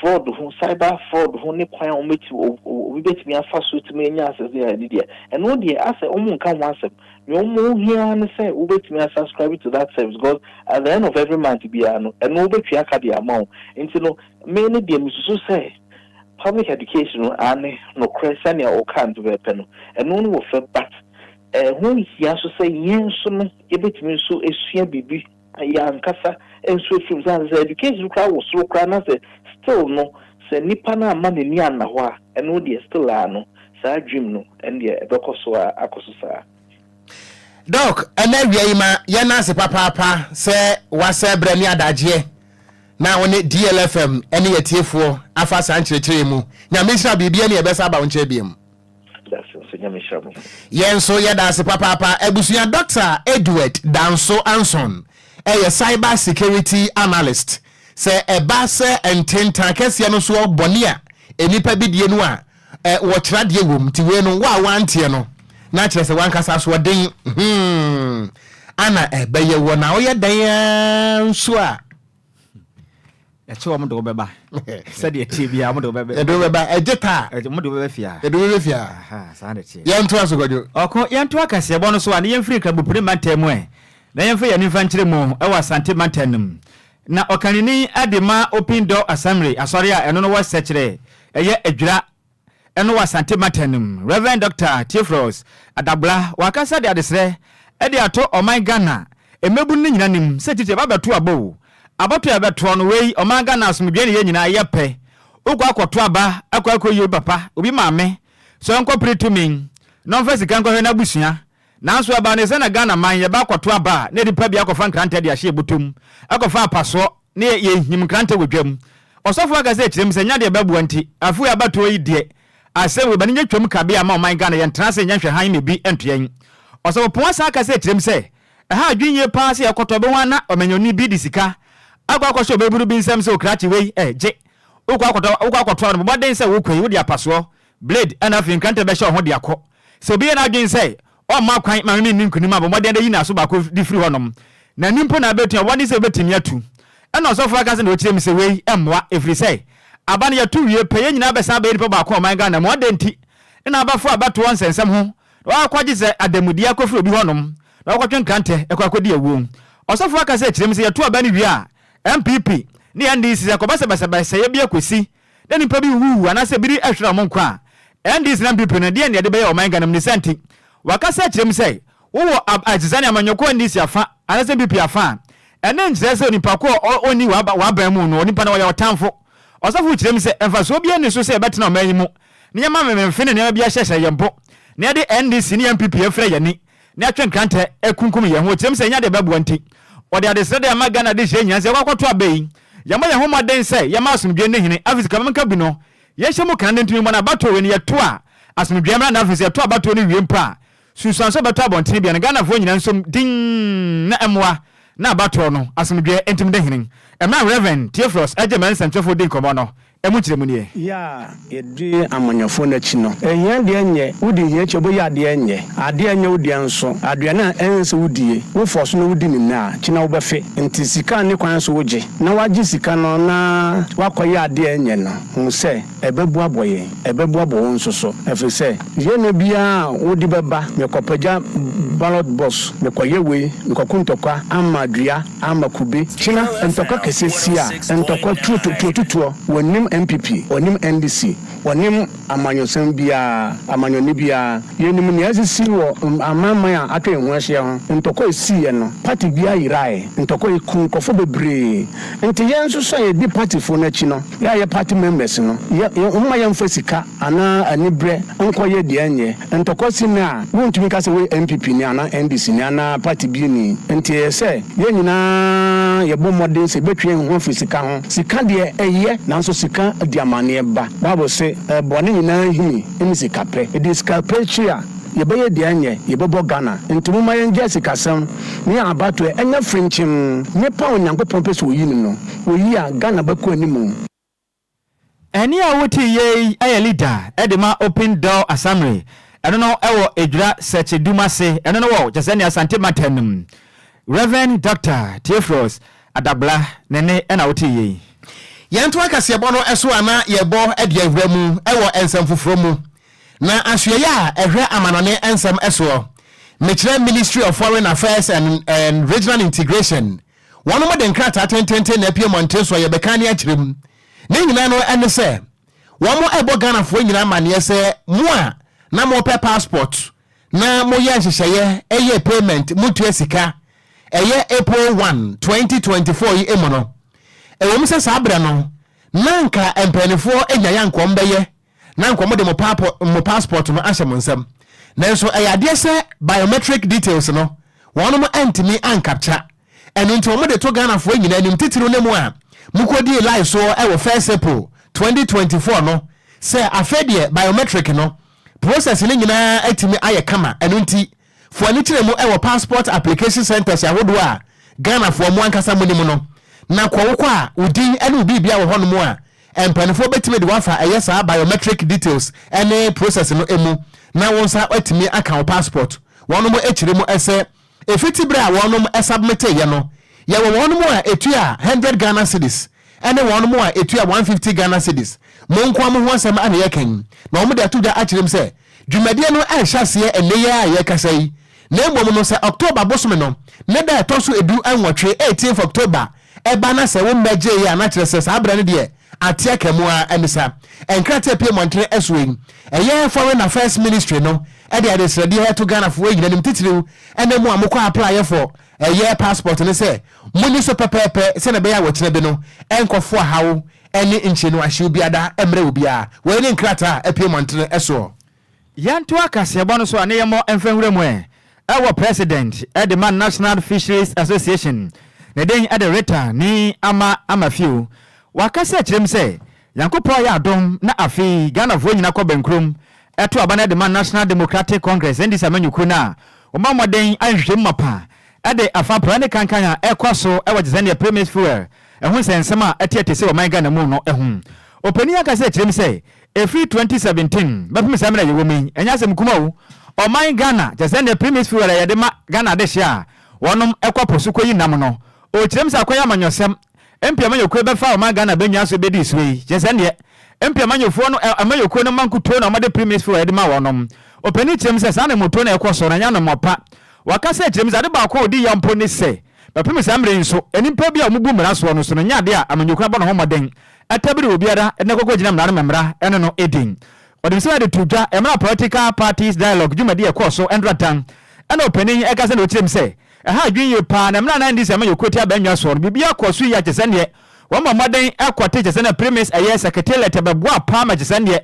fraud ho, cyber fraud ho ne kwan a wɔbɛtumi, obi bɛtumi afa so atumi anya access de ayɛ ne deɛ a, ɛno deɛ asɛ wɔnka ho asɛm. Nea ɔmo hia ara ne sɛ wobɛtumi a subscribe to that service because at the end of every month biara no ɛno wobɛtua ka de ama wo. Nti no me no deɛ mesusu sɛ public education no aane nokorɛ sɛnea wokaa no pɛpɛɛpɛ no ɛno no wɔ fɛ but ɛho hia nso sɛ yɛn nso no yɛbɛtumi nso asua biribi. Yɛ ankasa nso afirim sɛ ansa education koraa wɔ soro koraa na sɛ still no sɛ nipa no amma n'ani anna hɔ a ɛno deɛ still aa no saa dream no ɛndeɛ ɛbɛkɔ so aa akɔ so saa. Doc, ɛna awia yi ma yɛ na ase papaapa sɛ wa sɛ berɛ ne adagyeɛ na wo ne DLFM ne yɛ tiefoɔ afa saa nkyerɛkyerɛ yi mu. Nyame nhyira biribi ɛne ɛbɛsa aba wo nkyɛn biom. Yɛn nso yɛda ase papaapa. Abusua Dɔkta Edward Danso Anson yɛ cyber security analyst. Sɛ ɛba sɛ ntentan kɛseɛ no soɔ bɔne a nnipa bi die no a, ɛ, wɔkyerɛ adeɛ wɔ mu. Nti wei no, wo a woanteɛ no, na kyerɛ sɛ w'ankasa asoɔden hmm, ana ɛbɛyɛ wo. Na woyɛ dɛn ara nso a, ɛkyɛ wɔn de wɔbɛba sɛdeɛ ɛteɛ biara wɔn de wɔbɛba ɛde wɔbɛba ɛgye taa ɛde wɔn de wɔbɛba fia ɛde wɔbɛba fia saa na ɛteɛ yɛn to aso kɔdwo ɔko yɛn to akaseɛ bɔ no so a ne yɛn firi nkrabopire mantam mu ɛ na yɛn fɛ yɛn nifa nkyerɛ mu ɛwɔ asante mantam no mu na ɔkanini ɛde ma opin dɔ asamire asɔre a ɛno no wɔ sɛkyerɛ ɛyɛ adwira Ɛno wɔ Asante Matan no mu. Rev. Doctor Theophilus Adagbola wakasa de adesrɛ de ato ɔman Ghana mmabunu no nyina anim sɛ titi ɛba bɛto aba o, abatoɔ a ɛbɛtoɔ no wei ɔman Ghana asomdwoeɛ ne yɛ nyina yɛ pɛ, wokɔ akɔ to aba akɔ akɔ yi obi papa, obi maame sɛ ɔnkɔ pere tumi na ɔmfa sika nkɔhwɛ n'abusua Nanso ɛbaa no sɛ na Ghana man yɛba akɔto aba a na nnipa bi akɔfa nkrantɛ de ahyɛ bɔtɔ mu akɔfa apasoɔ na yɛhim nkrantɛ wɔ dwam. Ɔsɔfo aka sɛ kyerɛm sɛ nya deɛ ɛbɛboa nti afe wei abatoɔ yi deɛ asɛm wei ba no nyɛ twam kabea mma ɔman Ghana yɛntena ase nyɛ nhwɛ hann ma ebi nto yɛn. Ɔsɔfo Ponwa san aka sɛ kyerɛm sɛ ɛha adwene yie paa sɛ yɛkɔtɔ bɛ ho a na ɔmanyɔni bi de sika akɔ akɔhyɛ ɔbabunu bi nsam sɛ ɔkrakye wei gye wokɔ akɔtɔ wokɔ akɔto a no bɔ mmɔden sɛ wokɔ yi wode apasoɔ Blade na afei nkrantɛ bɛhyɛ wo ho de akɔ. Sɛ obi yɛ n'adwene sɛ ɔremma kwan mma me menni nkonim a, bɔ mmɔden ara de yi n'aso baako de firi hɔnom. N'ani mpo na abɛtu, na bɔ mmɔden sɛ wubetumi atu. Ɛnna ɔsɔfo aka sɛ na ɔkyerɛ mu sɛ wei mmoa, ɛfiri sɛ aba no yɛto wie pɛ, yɛn nyinaa bɛsan abɛyɛ nnipa baako wɔ ɔman Ghana mu. Adɛn nti na n'abafo a bɛto wɔn nsɛnsɛm ho na wɔakɔgye sɛ adanmudeɛ akɔfiri obi hɔnom na wɔakɔtwe nkrantɛ kɔ akɔdi awuo? Ɔsɔfo aka sɛ ɛkyerɛ mu sɛ yɛto aba no wie a, NPP ne NDC sɛ ɛkɔba sɛ basabasayɛ bi akɔsi, na nnipa bi wuwuu anaasɛ biribi hweree wɔn nkwa a, NDC ne NPP no deɛn na yɛde bɛyɛ ɔman Ghana mu? Ne saa nti, wɔakasa akyerɛ mu sɛ wowɔ ab a ɛte saa ne amanyɔkuo NDC afa anaasɛ NPP afa a, ɛno nkyerɛ sɛ onipa ko a ɔ ɔnni w'aba w'aban mu no, onipa no ɔyɛ ɔtamfo. Ɔsɔfo kyerɛ mu sɛ mfasoɔ biara nni so sɛ yɛbɛtena ɔman yi mu na yɛma memefe ne nneɛma bi ahyɛhyɛ yɛn mpo na yɛde NDC ne NPP afira yɛn ani. ne atwe nkrantɛ akunkum yɛn ho ɔtirim sɛ yɛnya deɛ ɛbɛboa nti, ɔde adesrɛ de ama Ghana Adehyeɛ nyinaa sɛ yɛkɔ akɔto aba yi. Yɛmmɔ yɛn ho mmɔden sɛ yɛma asomdwoeɛ nni hene, afei sika bɛma nkabi no, yɛnhyɛ mu kane nti mebɔ no abatoɔ wei no yɛto a asomdwoeɛ mmra na afei sɛ yɛto abatoɔ no wie mpo a sunsuan sɛ ɔbɛtɔ abɔntene biara na Ghanafoɔ nyinaa nsom dinn na ɛmmoa na abatoɔ no, asomdwoeɛ, ntim de hene. Ɛmmerɛ a Rev. Theophilus Agyemang nsɛmtwerɛfoɔ dii nkɔmmɔ no, Ɛmu nkyerɛmu ni ɛ. Yɛ a yɛdi amanyɔfoɔ no akyi no, hia deɛ nyɛ, wodi hia akyi a wobɛyɛ adeɛ nyɛ, adeɛ nyɛ wo deɛ nso, aduane a ɛnsɛ sɛ wodie, wo fɔ so na wodi no nnɛ a, kyena wobɛfe, nti sika a ne kwan so wogye na wagye sika no na wakɔyɛ adeɛ nyɛ no, hu sɛ ɛbɛboabɔ yɛn, ɛbɛboabɔ wo nso so, ɛfiri sɛ. Yɛ no biara a wode bɛba mekɔpagya ballot box mekɔyɛ wei mekɔko ntɔkwa ama dua ama kube kyena ntɔkwa kɛsɛ si a ntɔkwa tuo tuo tutuɔ wɔnim NPP wɔnim NDC wɔnim amanyɔsɛm biara amanyɔne biara yɛnim nea asisi wɔ amanman a atwa yɛn ho ahyia ho ntɔkwa ɛsiiɛ no party biara yeraɛ ntɔkwa yi kuu nkorɔfoɔ bebree nti yɛn nso so a yɛdi partyfoɔ no akyi no yɛ a yɛ party members no yɛ momma yɛmfa sika anaa anibrɛ nkɔyɛ deɛ ɛnyɛ ntɔkwa si nnɛ a wontumi nka sɛ woyɛ NPP ni anaa NDC ni anaa party bi ni nti ɛyɛ sɛ yɛn nyinaa yɛbɔ mmɔden sɛ yɛbɛtwe yɛn ho afiri sika ho sika deɛ ɛyɛ nanso sika di amaneɛ ba bible se bɔne nyinaa hini ne sikapɛ ɛdi sika pɛ akyiri a yɛbɛyɛ deɛ ɛnyɛ yɛbɛbɔ Ghana nti momma yɛngyae sikasɛm ne abatoɛ ɛnyɛ frenkyem nipa a Onyankopɔn pɛ sɛ oyi no no oyi a Ghana bɛkɔ anim. Ɛnne a wote yɛ yi yɛ leader de ma Open Door Asammere. Ɛno no wɔ Edwira Sɛkye Dumase, ɛno no wɔ Kyesɛne Asante Mantam mu. Rev. Doctor Theophilus Adagbla ne ne na wote yɛ yi. Yɛnto akaseɛbɔ no so ana yɛbɔ de awura mu wɔ nsɛm foforɔ mu na asoɛeɛ a ɛhwɛ amanɔne nsɛm soɔ. Mekyerɛ Ministry of Foreign Affairs and Regional Integration Wɔnom de nkrataa tententen na apue mmɔnten so a yɛbɛkan ne akyerɛ mu. Ne nyinaa no ɛne sɛ, wɔnom ɛbɔ Ghanafoɔ nyinaa amaneɛ sɛ mo a na mo pɛ passport na mo yɛ nhyehyɛeɛ ɛyɛ payment mo tua sika ɛyɛ April one, twenty twenty four yi mu no, ɛwɔ mu sɛ saa berɛ no na nka mpainifoɔ nyaeɛ anka wɔn bɛyɛ na anka wɔde mo paapɔ mo passport no ahyɛ mo nsam nanso ɛyɛ adeɛ sɛ biometric details no wɔnom antumi ancapture ɛno nti wɔde to Ghanafoɔ nyinaa anim titiriw ne mo a mokɔdii live soɔ ɛwɔ first April twenty twenty four no sɛ afei deɛ biometric no process no nyinaa atumi ayɛ kama ɛno nti foɔ ani kyerɛ mu wɔ passport application centres ahodoɔ a Ghanafoɔ mo ankasa monim no, na kɔ wokɔ a wo din ne wo biribia wɔ hɔnom a, mpaninfoɔ bɛtumi de wo afa ɛyɛ saa biometric details ne process no mu na wo nsa atumi aka wo passport wɔnom kyerɛ mu sɛ ɛfiti berɛ a wɔnom submiteeɛ no. Yɛwɔ wɔnom a ɛtua hundred Ghana cedis ɛne wɔn mo a etua one fifty Ghana cedis mo nkoa mo ho asɛm a na yɛka yi, na wɔn de ato dwa akyerɛ mu sɛ dwumadie no ɛnhyɛ aseɛ ɛnnɛ yi ara a yɛrekasa yi, na mmom no sɛ October bosome no ne da a ɛtɔ so edu nwɔtwe, eighteenth October, ɛba na sɛ wo mmɛ gyee yɛ a na kyerɛ sɛ saa berɛ no deɛ ate aka mu ara ɛne sa nkrataa a pue mmɔntene ɛsoɔ yi ɛyɛ Foreign Affairs Ministry no ɛde adesrɛdeɛ ɛto Ghanafoɔ nyina anim titiriw ɛne mo a mokɔ apply for ɛyɛ passport no sɛ Monni so pɛpɛɛpɛ sɛnea ɛbɛyɛ a wɔkyena bi no ɛnkɔ foa haw ne nkyerɛnnu ahyew biada mmrɛ obiara. Wei ne nkrataa a apue mmɔntene soɔ. Yɛntoa kaseɛbɔ no so a ne yɛmmɔ mfa nwura mu ɛ. Ɛwɔ President de ma National Fisheries Association, ne den de Rita Nii Ama Amafio. Wakasa akyerɛ mu sɛ, Nyankopɔn ayɛ adom na afei Ghanafoɔ nyina kɔ bɛnkurom to aba no de ma National Democratic Congress, NDC, amanyɔkuo no a wɔbɔ mmɔden ayɛ nhwehwɛmu mapa de afa praa ne kankan a ɛrekɔ so wɔ gyesɛdeɛ premix fuel ho nsɛnsɛm a atiati si wɔ ɔman Ghana mu no ho. Ɔpanin akasa kyerɛ mu sɛ ɛfiri 2017 bɛpem saa mmerɛ a yɛwɔ mu yi ɛnyɛ asɛm kuma o, ɔman Ghana gyesɛdeɛ premix fuel a yɛde ma Ghana adehyeɛ a wɔnom kɔ po so kɔyi nam no, ɔkyerɛ mu sɛ akɔyɛ amanyɔsɛm MP amanyɔkuo bɛfa ɔman Ghana bɛnwia so bɛdi soɔ yi, kyerɛ sɛ neɛ MP amanyɔfoɔ no, amanyɔkuo no mma nkutuo na wɔde premix fuel de ma wɔnom. Ɔpanin kyerɛ mu sɛ saa na mmutuo no ɛkɔ soɔ na ɛnyɛ anomoa pa. Waka sɛ kyerɛ mu sɛ ade baako a ɔdi yaw mpo ne sɛ bɛpem saa mmerɛ yi nso nnipa bi a wɔbu mmara soɔ no so no nyɛ adeɛ a amanyɔkuo abɔ ne ho mmɔden atabiri obiara na ɛkɔkɔ gyina mmara no ma mmara ne no ɛdi Ɔde nsɛm a ɛde to dwa mmara Political Parties Dialogue dwumadie a ɛkɔɔ so ntratan ɛna ɔpanin yi ɛkasa na ɔkyerɛ mu sɛ Ɛha adwene yie paa na mmerɛ a na ɛnde sɛ ɛma yɛkuro ti abannwa soɔ no biribiara kɔɔ so yie kyesɛ neɛ wɔmɔ mmɔden kɔte kyesɛ na primis ɛyɛ sɛketeliɛt ɛbɛboa paa ma kyesɛ neɛ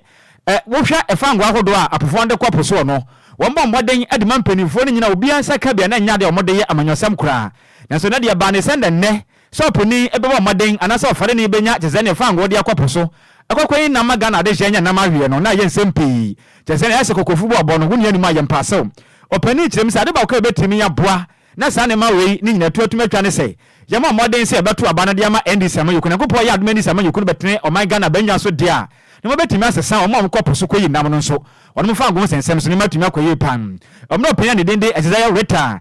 ɛ wohwɛ fangoo ahodoɔ a apofoɔ de kɔ po soɔ no wɔmɔ mmɔden de ma mpaninfoɔ no nyina obiara nsa ka bi a na ɛnyɛ adeɛ a wɔde yɛ amanyɔsɛm koraa nanso na deɛ ɛbaa ne sɛ na nnɛ Sɛ ɔponi bɛbɔ mmɔden anaasɛ ɔfare no bɛnya kyerɛ sɛ ne fangoo de akɔ po so. Ɛkɔkɔ yi nam ma Ghana adehyeɛ nya nam aweɛ no na ɛyɛ nsɛm pii. Kyerɛ sɛ ɛyɛ sɛ kɔkɔfu bɔ ɔbɔ no wo nua no mu a yɛmpa asew. Ɔpani kyerɛm sɛ ade baako a yɛbɛtumi aboa na saa nneɛma wei no nyinatu atumi atwa ne sɛ yɛmmɔ mmɔden sɛ yɛbɛto aba no de ama NDC amanyɔkuo. Nyankopɔn yɛ adom NDC amanyɔkuo no bɛtene ɔman Ghana abannwa so deɛ a na wɔbɛtumi asesa wɔn a wɔkɔ po so kɔyi nam no nso wɔnom fangoo nsɛnsɛm so nneɛma atumi akɔ yie paa. Ɔmena ɔpani a ne din de Azeziah Rita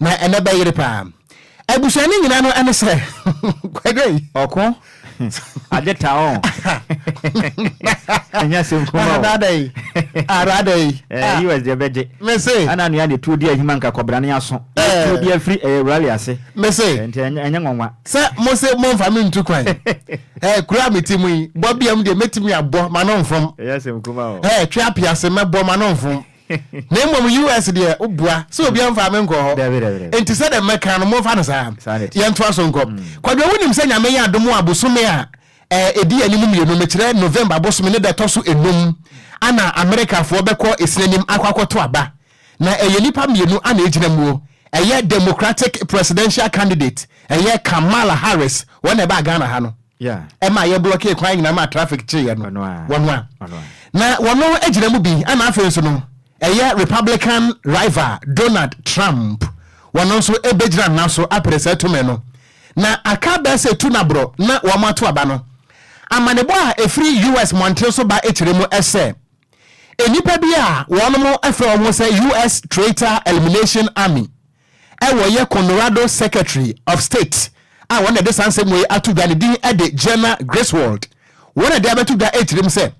Na ɛnɛ bɛyere paa. Abusua no nyina no ɛne sɛ kwadwo yi. Ɔko agye ta ɔn. Ɛnyɛ asɛm kuma o. Rada yi. Ah rada yi. Eh US deɛ bɛgye. Mese. Ana nua ne tuo di ahima nka kɔbra ne aso. Eh. Tuo bi afiri eh rally ase. Mese. Nti ɛnyɛ nwanwa. Sɛ mo se mo nfa me ntu kwan. Eh kuro a mete mu yi bɔ biam deɛ mɛtumi abɔ ma no nfom. Ɛnyɛ asɛm kuma o. Eh twe apiase mɛbɔ ma no nfom. na mmom US deɛ wobua sɛ obi amfa me nkɔ hɔ enti sɛ dɛ mɛka no momfa no saa yɛntoa so nkɔ mm. kwadwo wonim sɛ nyame yɛ adom a bosome a ɛdi anim mmienu mekyerɛ November bosome ne da ɛtɔ so enum ana Amerikafoɔ bɛkɔ esinanim akɔ akɔto aba na ɛyɛ nipa mmienu ana egyina muo ɛyɛ Democratic presidential candidate ɛyɛ Kamala Harris wɔn na ɛbaa Ghana ha no ɛmaa yɛblɔkee kwan nyinaa maa trafik kyeeɛ no, wɔn a na wɔno gyina mu bi ɛna afei nso no ɛyɛ Republican rival Donald Trump, wɔno nso bɛgyina naso apere saa tumi no, na aka bɛɛ sɛ tu na borɔ na wɔn ato aba no. Amanebɔ a ɛfiri US mmɔnten so ba kyerɛ mu sɛ nnipa bi a wɔnom frɛ wɔn ho sɛ US Traitor Elimination Army wɔ yɛ Colorado Secretary of State a wɔn na ɛde saa nsɛm wei ato dwa ne din de Jena Griswold. Wɔn na ɛde abɛto dwa etirim sɛ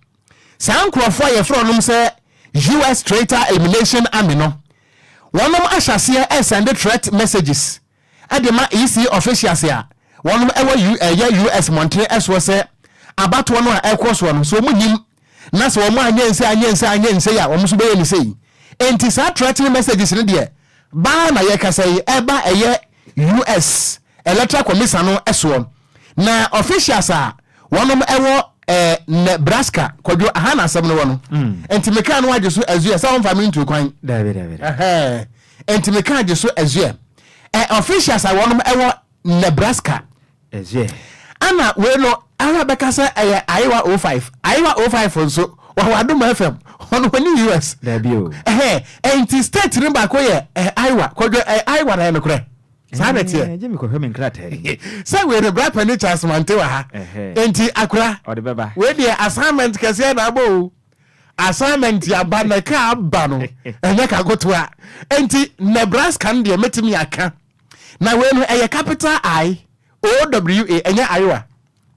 saa nkurɔfoɔ a yɛfrɛ wɔnom sɛ US Traitor Elimination Army no, wɔnom ahyɛ aseɛ resɛnde threat messages de ma EC officials a wɔnom wɔ US mmɔntene soɔ sɛ abatoɔ no a ɛrekɔ soɔ no, sɛ wɔn nnim na sɛ wɔn anyɛ nsei anyɛ nsei anyɛ nsei a wɔn nso bɛyɛ no sei. Enti saa threatening messages no deɛ baa na yɛkasa yi ɛreba ɛyɛ US electoral commisan no soɔ na officials a wɔnom ɛwɔ ɛɛ Nebraska kwadwo aha na asɛm no wɔ no enti mekaa no agye so azuɛ sɛ wɔmfa me ntuo kwan Daabi daabi daabi. ɛhɛn enti mekaa agye so azuɛ ɛ officials a wɔnom ɛwɔ Nebraska Ɛna wei no ara bɛka sɛ ɛyɛ Ayewa 05. Ayewa 05 nso, wɔwɔ Adom FM. Wɔn wɔ ne US. Daabi o. Ɛhɛɛ, ɛnti state no baako yɛ Ayewa. Kwadwo, ɛyɛ Ayewa na ɛyɛ nokorɛ? Saa na ɛteɛ. Ɛɛ, gye me kɔhwɛ me nkrataa yi mu. Sɛ wei no, Bra Panin Charles Mante wɔ ha. Ɛhɛɛ. Ɛnti Akora. Ɔde bɛba. Wei deɛ assignment kɛseɛ na abɔ o. Assignment aba na ɛka aba no, ɛnyɛ kagotoa. Ɛnti Nebraska no deɛ mɛtumi aka. Na wei no ɛyɛ capital I O W A ɛnyɛ Iowa.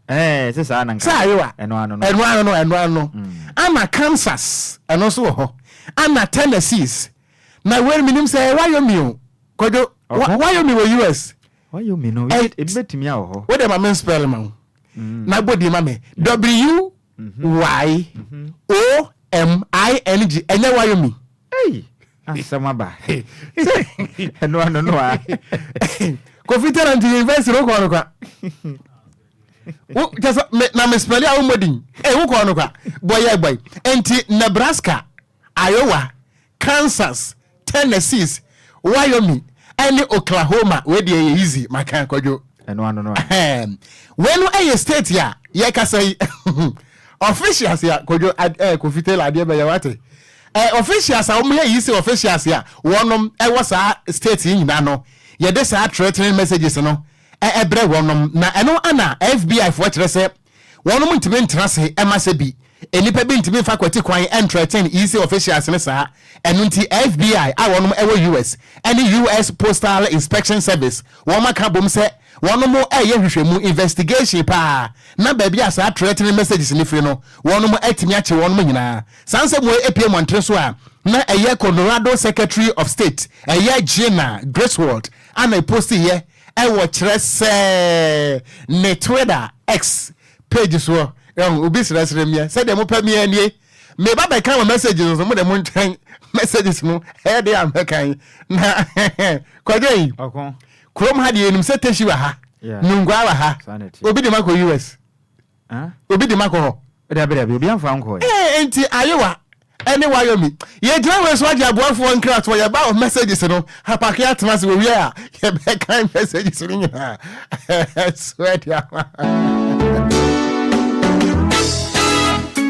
Ɛɛ sɛ saa na nka. Sɛ Iowa. Ɛno ano no. Ɛno ano no ɛno ano no. Mm. Ana Kansas ɛno nso wɔ hɔ. Ana Tennessee's. Na wei no menim sɛ ɛyɛ Wyoming o. Kɔdwo Wyoming wɔ US. Wyoming no ebi bɛtumi awɔ hɔ. Wode ma me spell ma wo. Mm. Na bɔ din ma me. W Y-o-m-i-n-g, ɛnyɛ Wyomi. Ei! Asɛm aba. Sɛ ɛno ano no a. Kofi Tera nti university no wokɔɔ no kwa. Wo kyɛ sɛ me na me spɛli a wo mmɔ din. Ei wokɔɔ no kwa. Bɔyɛ bɔy. Nti Nebraska, Iowa, Kansas, Tennessee, Wyoming ɛne Oklahoma wei deɛ yɛ easy maka kwadwo ɛno ano no ahem wei no ɛyɛ state a yɛ kasa yi officials a kwadwo ɛɛ kofi taylor adeɛ bɛyɛ wate ɛɛ officials a wɔn yɛ yi sɛ officials a wɔnom ɛwɔ saa state yi nyinaa no yɛde saa threatening messages no ɛbrɛ wɔnom na ɛno ana FBI foɔ kyerɛ sɛ Wɔnom ntumi ntena ase ɛma sɛ bi. Nnipa bi ntumi nfa kwati kwan ɛntrɛten EC officials no saa. Ɛno nti FBI a wɔnom ɛwɔ US ɛne US Postal Inspection Service wɔnom aka abom sɛ wɔnom ɛɛyɛ nhwehwɛmu, investigation, paa na baabi a saa trɛtening messages no firi no wɔnom atumi akye wɔnom nyinaa. Saa nsɛm wei epue mmɔnten so a na ɛyɛ Colorado Secretary of State ɛyɛ Gina Griswold a na ɛpostiiɛ Ɛwɔ kyerɛ sɛɛ ne Twitter, X, page soɔ. Ɛhu, obi srɛsrɛ mia, sɛdeɛ mopɛ mia nie. Meba bɛkan wɔ messages no so, mo de montwɛn messages no ɛyɛ den a mɛkan. Na Kwadwei, kurom ha deɛ yɛnim sɛ Teshie wɔ ha, Nungua wɔ ha, obi de mo akɔ US. Obi de ma kɔ hɔ? Dabi dabi, obi amfa ankɔ ɛ. Ee nti ayewa ɛne wayomi yɛ gyina wei so agye aboafoɔ nkratoɔ yɛ ba wɔ messages no apake atena ase wɔ wie a yɛ bɛ kan messages no nyinaa so ɛde ama.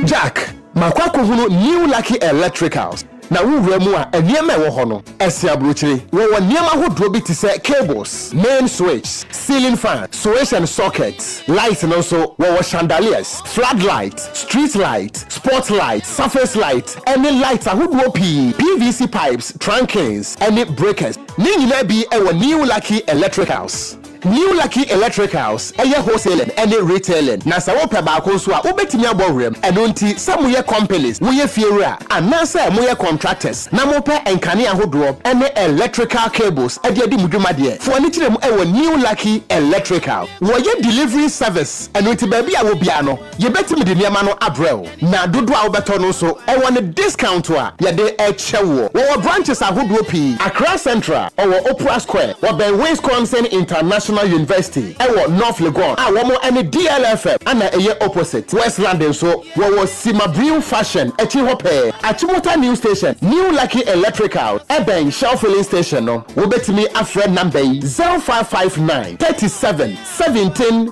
Jack, makɔ akɔhunu New Lucky Electricals. Na wowura mu a, nneɛma a ɛwɔ hɔ no, ɛsen aburokyire. Wɔwɔ nneɛma ahodoɔ bi te sɛ cables, main switch, ceiling fan, switch and socket. Light no nso, wɔwɔ chandeliers, floodlight, street light, spot light, surface light, ne light ahodoɔ pii, PVC pipes, trunkings, ne breakers. Ne nyinaa bi wɔ New Lucky Electricals. New Lucky Electricals yɛ wholesaling ne retailing, na sɛ wopɛ baako nso a, wobɛtumi abɔ wuram. Ɛno nti, sɛ moyɛ companies, woyɛ fiewura, anaasɛ moyɛ contractors na mopɛ nkanea ahodoɔ ne electrical cables de adi mo dwuma deɛ, fa w'ani kyerɛ mu wɔ New Lucky Electrical. Wɔyɛ delivery service, ɛno nti baabi a wɔ biara no, Yɛbɛtumi de nneɛma no abrɛ wo, na dodoɔ a wobɛtɔ no nso, ɛwɔ ne discount a yɛde kyɛ woɔ. Wɔwɔ branches ahodoɔ pii, Accra Central, wɔwɔ Opera Square, wɔbɛn Winsconsin International University, ɛwɔ North Legon a wɔn ne DLFM na ɛyɛ opposite, Westland nso, wɔwɔ Sima Brew Fashion akyi hɔ pɛɛ, Achimota New Station, New Lucky Electrical, ɛbɛn Shell Filling Station no. Wobɛtumi afrɛ number yi, 0559 37 17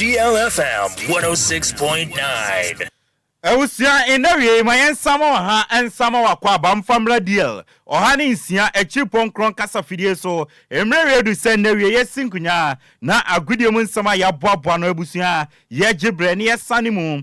DLFM 106.9. Abusua nn'awiei ma yɛn nsa ma ɔha nsa ma w'akwaaba mfa mmra DL ɔha ne nsia akyiri pɔnkrɔn kasa fidie so mmerɛwie du sɛ nn'awiei yɛsi nkonyaa na agodie mu nsɛm a yɛaboaboa no abusua yɛgye berɛ ne yɛsane mu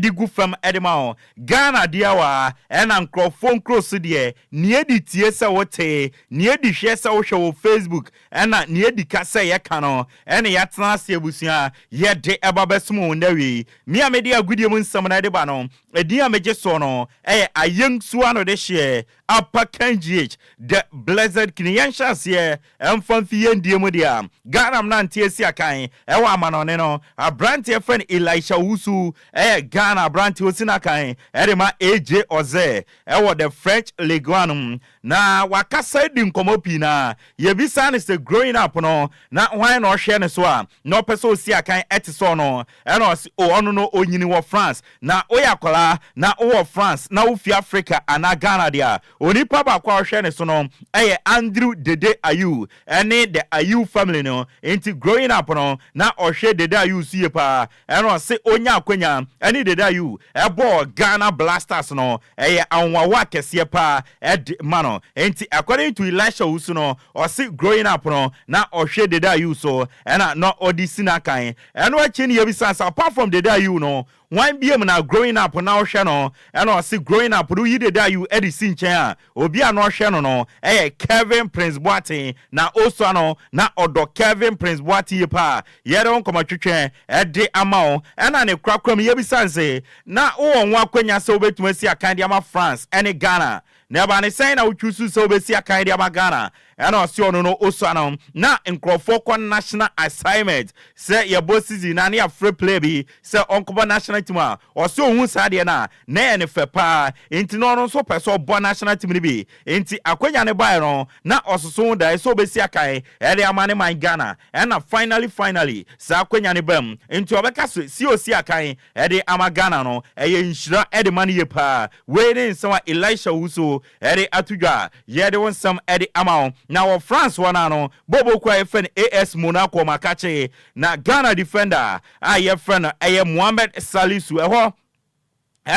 de gu fam de ma wo. Ghana deɛ wa ɛna nkorɔfoɔ nkuro so deɛ neɛ di tie sɛ wo te, neɛ di hwɛ sɛ wo hwɛ wɔ Facebook ɛna neɛ di ka sɛ yɛ ka no ɛne ya tena ase abusua yɛ de ba bɛ som wo nnɛ wei me a me de agudie mu nsɛm no de ba no ɛdin a me gye soɔ no ɛyɛ Ayeng Suano de hyeɛ Apa Ken GH, The Blessed King, Yɛnhyɛ aseɛ mfa mfi yɛn deɛ mu deɛ a, Ghana mmeranteɛ si akan wɔ amanɔne no. Aberanteɛ frɛ no Elisha Owusu yɛ Ghana aberanteɛ a ɔsi no akan de ma AJ Oze wɔ the French Ligue 1 no mu. Na wakasa adi nkɔmmɔ pii na yɛbisaa no sɛ growing up no, na hwan na ɔhwɛ ne so a na ɔpɛ sɛ ɔsi akan te sɛ ɔno. Ɛna ɔse oh ɔno no ɔnyini wɔ France na woyɛ akwadaa na wowɔ France na wofiri Africa anaa Ghana deɛ a, onipa baako a ɔhwɛ ne so no yɛ Andrew Dede Ayew ne the Ayew family no nti growing up no na ɔhwɛ Dede Ayew so yie pa ara. Ɛna ɔse ɔnyaa akwanya ne Dede Ayew bɔɔ Ghana Blasters no ɛyɛ anwanwa kɛseɛ pa ara de ma no nti according to Elisha Owusu no ɔse growing up no na ɔhwɛ Dede Ayew so ɛna na ɔde si no akan Ɛno akyi no yɛbisaa sɛ apart from Dede Ayew no, hwan biom na Growing Up na ɔhwɛ no? Ɛna ɔse Growing Up no woyi Dede Ayew de si nkyɛn a, obi a na ɔhwɛ no no yɛ Kelvin Prince Boateng. Na Osua no na ɔdɔ Kelvin Prince Boateng yie paa. Yɛde wo nkɔmmɔ twetwe de ama wo. Ɛna ne korakora mu yɛbisaa no se, na wowɔ ho akwanya sɛ wobɛtumi asi akan de ama France ne Ghana? Na ɛbaa ne sɛn na wotwiw so sɛ wobesi akan de ama Ghana ɛna ɔse ɔno no osua no na nkurɔfoɔ kɔ national assignment sɛ yɛbɔ season na ne yɛafrɛ player bi sɛ ɔnkɔbɔ national team a ɔse ohuu saa adeɛ no a na ɛyɛ ne fɛ paa enti na ɔno nso pɛ sɛ ɔbɔ national team no bi enti akwanya no baeɛ no na ɔsoso ho daeɛ sɛ obesi akan de ama ne man Ghana ɛna finally finally saa akwanya no baam enti ɔbɛka sɛ si osi akan de ama Ghana no, ɛyɛ nhyira de ma no yie paa. Wei ne nsɛm a Elisha Owusu de ato dwa. Yɛde wo nsɛm de ama wo. Na wɔ France hɔ no ara no, bɔɔlbɔ kuo a yɛfrɛ no AS Monaco ma kakye, na Ghana defender a yɛfrɛ no ɛyɛ Mohamed Salisu, ɛhɔ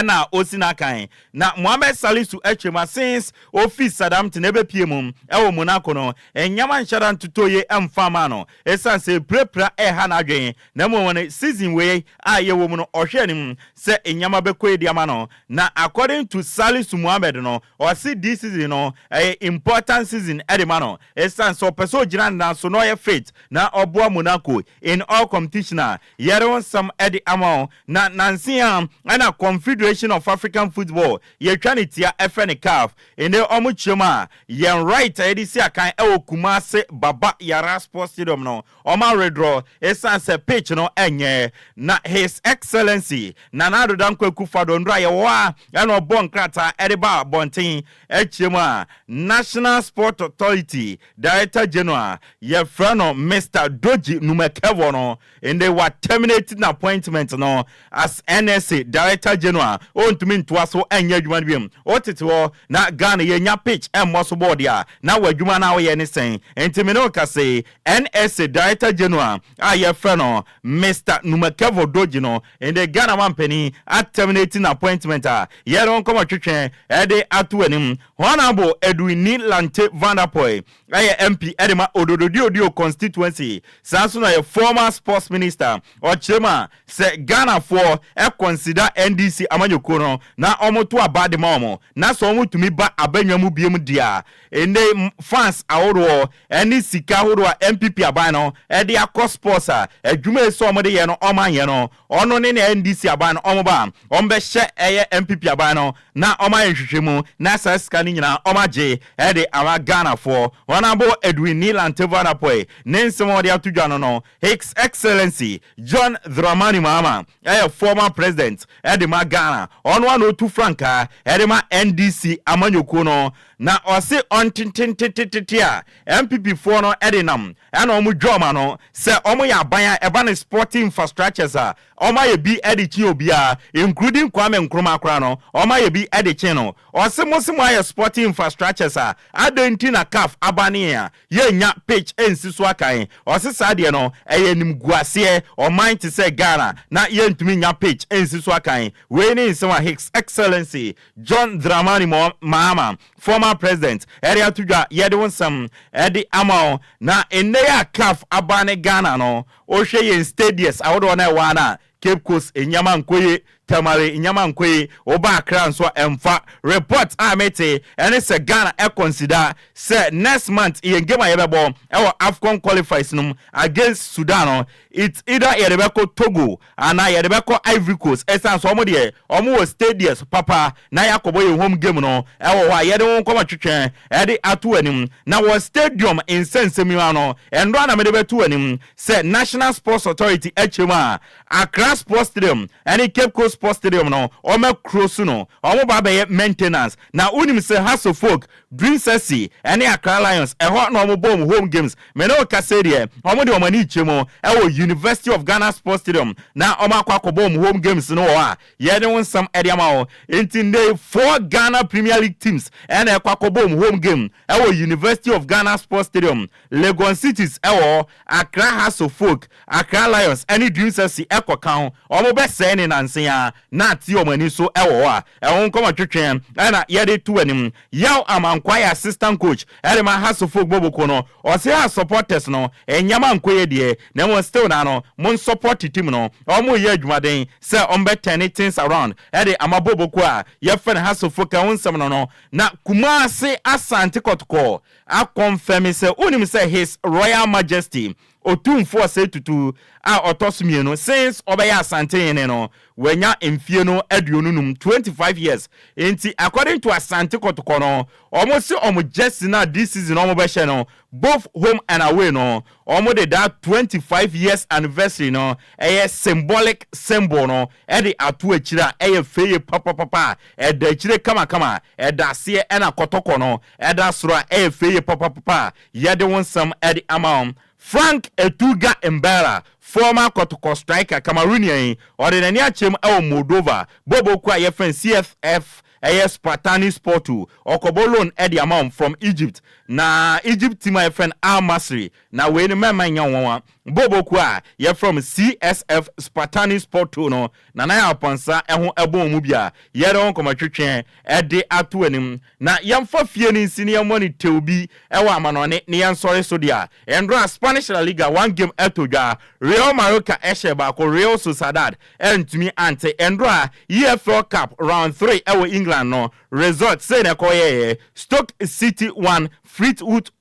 na ɔsi n'akan. Na Mohamed Salisu atwa mu a since ɔfiri Southampton bɛpue mu wɔ Monaco no, nneɛma nhyɛ da ntotɔ yie mfa mmaa no. Esiane sɛ pirapira reha n'adwene, na mmom wɔn season wei a yɛwɔ mu no ɔhwɛ anim sɛ nneɛma bɛkɔ yie de ama no. Na according to Salisu Mohammed no, ɔse this season no ɛyɛ important season de ma no esiane sɛ ɔpɛ sɛ ɔgyina ne nan so na ɔyɛ fit na ɔboa Monaco in all competition a yɛde ho nsɛm de ama wɔn. Na nanse yi ara na Confederation of African Football yɛtwa ne tia frɛ no caf Nnɛ wɔn kyeam a yɛn right a yɛde si akan wɔ Kumase Baba Yara Sports Stadium no wɔn aweredrɔ ɛsiane sɛ pitch no nyɛ na His Excellency Nana Addo Dankwa Akufo-Addo nnora a yɛwɔ ha na ɔbɔɔ nkrataa de baa abɔnten kyeam a National Sport Authority Director General yɛfrɛ no Mister Dorji Numekevor no Ndɛ wa terminate n'appointment no as NSA Director General, ontumi ntoa so nyɛ adwuma no biom. Wo tete hɔ na Ghana yɛ nya pitch mmɔ so bɔɔl dea, na w'adwuma no a wo yɛ ne sɛn? Nti me ne wo kasa yi, NSA Director General a yɛ frɛ no Mister Numakevor Dorji no, ndɛ Ghana mampanin a terminate n'appointment a yɛ ne wo nkɔmɔ twetwe de ato w'anim. Honourable Edwinni Lante Vanderpoel Na yɛ MP de ma Odododio-Dio constituency, saa nso na yɛ former sports minister. Ɔkyerɛ mu a, sɛ Ghanafoɔ consider NDC amanyɔkuo no na wɔto aba de ma wɔn, na sɛ wɔtumi ba abannwa mu biom deɛ a, nnɛ yi funds ahodoɔ ne sika ahodoɔ a NPP aban no de akɔ sports a, adwuma a ɛsɛ sɛ wɔde yɛ no wɔanyɛ no, Ɔno ne nea NDC aban no wɔn ba a wɔn bɛ hyɛ ɛyɛ NPP aban no na wɔn ayɛ nhwehwɛ mu na saa sika no nyinaa wɔn agye ɛde ama Ghana foɔ. Honourable Edwin Nilan Tevoa Dapoey ne nsɛm a ɔde ato dwa no no His Excellency John Dramani Mahama ɛyɛ former president ɛde ma Ghana ɔno ara na ɔtu frankaa ɛde ma NDC amanyɔkuo no na ɔse ɔntententetetete a NPP foɔ no de nam na wɔn dwa wɔn ano sɛ wɔn yɛ aban a ɛba ne sporting infrastructures a wɔn ayɛ bi de kyen obiara including Kwame Nkrumah koraa no wɔn ayɛ bi de kyen no. Ɔse mo se mo ayɛ sporting infrastructures a adɛn nti na caf aba ne yɛn a yɛnnya pitch nsi so akan? Ɔse saa deɛ no ɛyɛ animguaseɛ ɔman te sɛ Ghana na yɛntumi nnya pitch nsi so akan. Wei ne nsɛm a His Excellency John Dramani Mahama Former President ɛde ato dwa yɛde wo nsɛm ɛde ama wo na nnɛ yi a caf aba ne Ghana no wohwɛ yɛn stadius ahodoɔ no a ɛwɔ ha no a Cape Coast nneɛma nkɔ yie Tamale nneɛma nkɔ yie woba Accra nso a ɛmfa report a mete ɛne sɛ Ghana ɛ consider sɛ next month yɛn game a yɛbɛbɔ ɛwɔ Afcon qualifies no mu against Sudan no it's either yɛde bɛkɔ Togo Anaa yɛde bɛkɔ Ivory Coast ɛsiane sɛ wɔn deɛ wɔn wɔ stadius papa na yɛakɔbɔ yɛn home game no ɛwɔ hɔ a yɛde wɔn kɔma twetwɛn ɛde ato anim na wɔ stadium nsɛnsɛm yi mu ano nnora na mede bɛto anim sɛ National Sports Authority akyerɛ mu a Accra Sports Stadium ɛne Cape Coast Sports Stadium no wɔma kuro so no wɔn ba bɛyɛ maintenance na wonim sɛ Hasso folk Dream City ne Accra Lions, ɛhɔ na wɔbɔ wɔn home games. Me ne wo kasa yi deɛ, wɔde wɔn ani rekyerɛ mu wɔ University of Ghana Sports Stadium na wɔakɔ akɔbɔ wɔn home games no wɔ hɔ a yɛde wo nsɛm de ama wo. Enti nnɛ yi, four Ghana Premier League teams na ɛkɔ akɔbɔ wɔn home game wɔ University of Ghana Sports Stadium. Legon Cities wɔ hɔ, Accra Hearts of Oak, Accra Lions ne Dream City kɔka ho. Wɔbɛsɛe no nnansa yi ara na ate wɔn ani nso wɔ hɔ a Ɛho nkɔmmɔ twetwe na yɛde to anim. Yaw Amang Kwai assistant coach de ma Hearts foɔ Gboboko no, ɔse Hearts supporters no nneɛma ankɔ yie deɛ na mmom still naa no mo nsupporte team no, wɔreyɛ adwumaden sɛ wɔbɛ turne things around de ama Gboboko a yɛfrɛ no Hearts foɔ ka ho nsɛm no no. Na Kumasi Asante Kɔtɔkɔ a confirme sɛ wonim sɛ His Royal Majesty Otumfo Osei Tutu a ɔtɔ so mmienu since ɔbɛyɛ Asante hene no, wanya mfie no aduonu num, twenty five years, nti according to Asante kɔtɔkɔ no, wɔn se wɔn jersey no a this season wɔn bɛhyɛ no both home and away no, wɔn de that twenty five years anniversary no ɛyɛ symbolic symbol no de ato akyire a ɛyɛ fɛ yie papapapa a ɛda akyire kamakama, ɛda aseɛ ɛna kɔtɔkɔ no ɛda soro a ɛyɛ fɛ yie papapapa a Yɛde wo nsɛm de ama wo. Franck Etuga Mbala, former Kɔtɔkɔ striker, Cameroonian yi, ɔde n'ani akyerɛ mu wɔ Moldova, bɔbɔ kuo a yɛfrɛ no CSF, ɛyɛ Spartani Sportu, ɔkɔbɔ loan de ama wɔn from Egypt, na Egypt team a yɛfrɛ no Al Masry, na wei no mɛmma nyɛ nwanwa, bɔbɔ kuo a yɛfrɛ wɔn CSF Spartani Sportu no, Nana Yaw Pansah ho bɔ wɔn mu bi a, yɛde wɔn nkɔmmɔtwetwe de ato w'anim. Na yɛmfa fie no nsi na yɛmmɔ no tew bi wɔ amanɔnne ne yɛn nsɔre so de a, nnora a Spanish La Liga one game atɔ dwa, Real Mallorca hyɛɛ baako, Real Sociedad antumi ante, nnora a EFL Cup round three wɔ England no result sei na ɛkɔyɛeɛ, Stoke City one, Fleetwood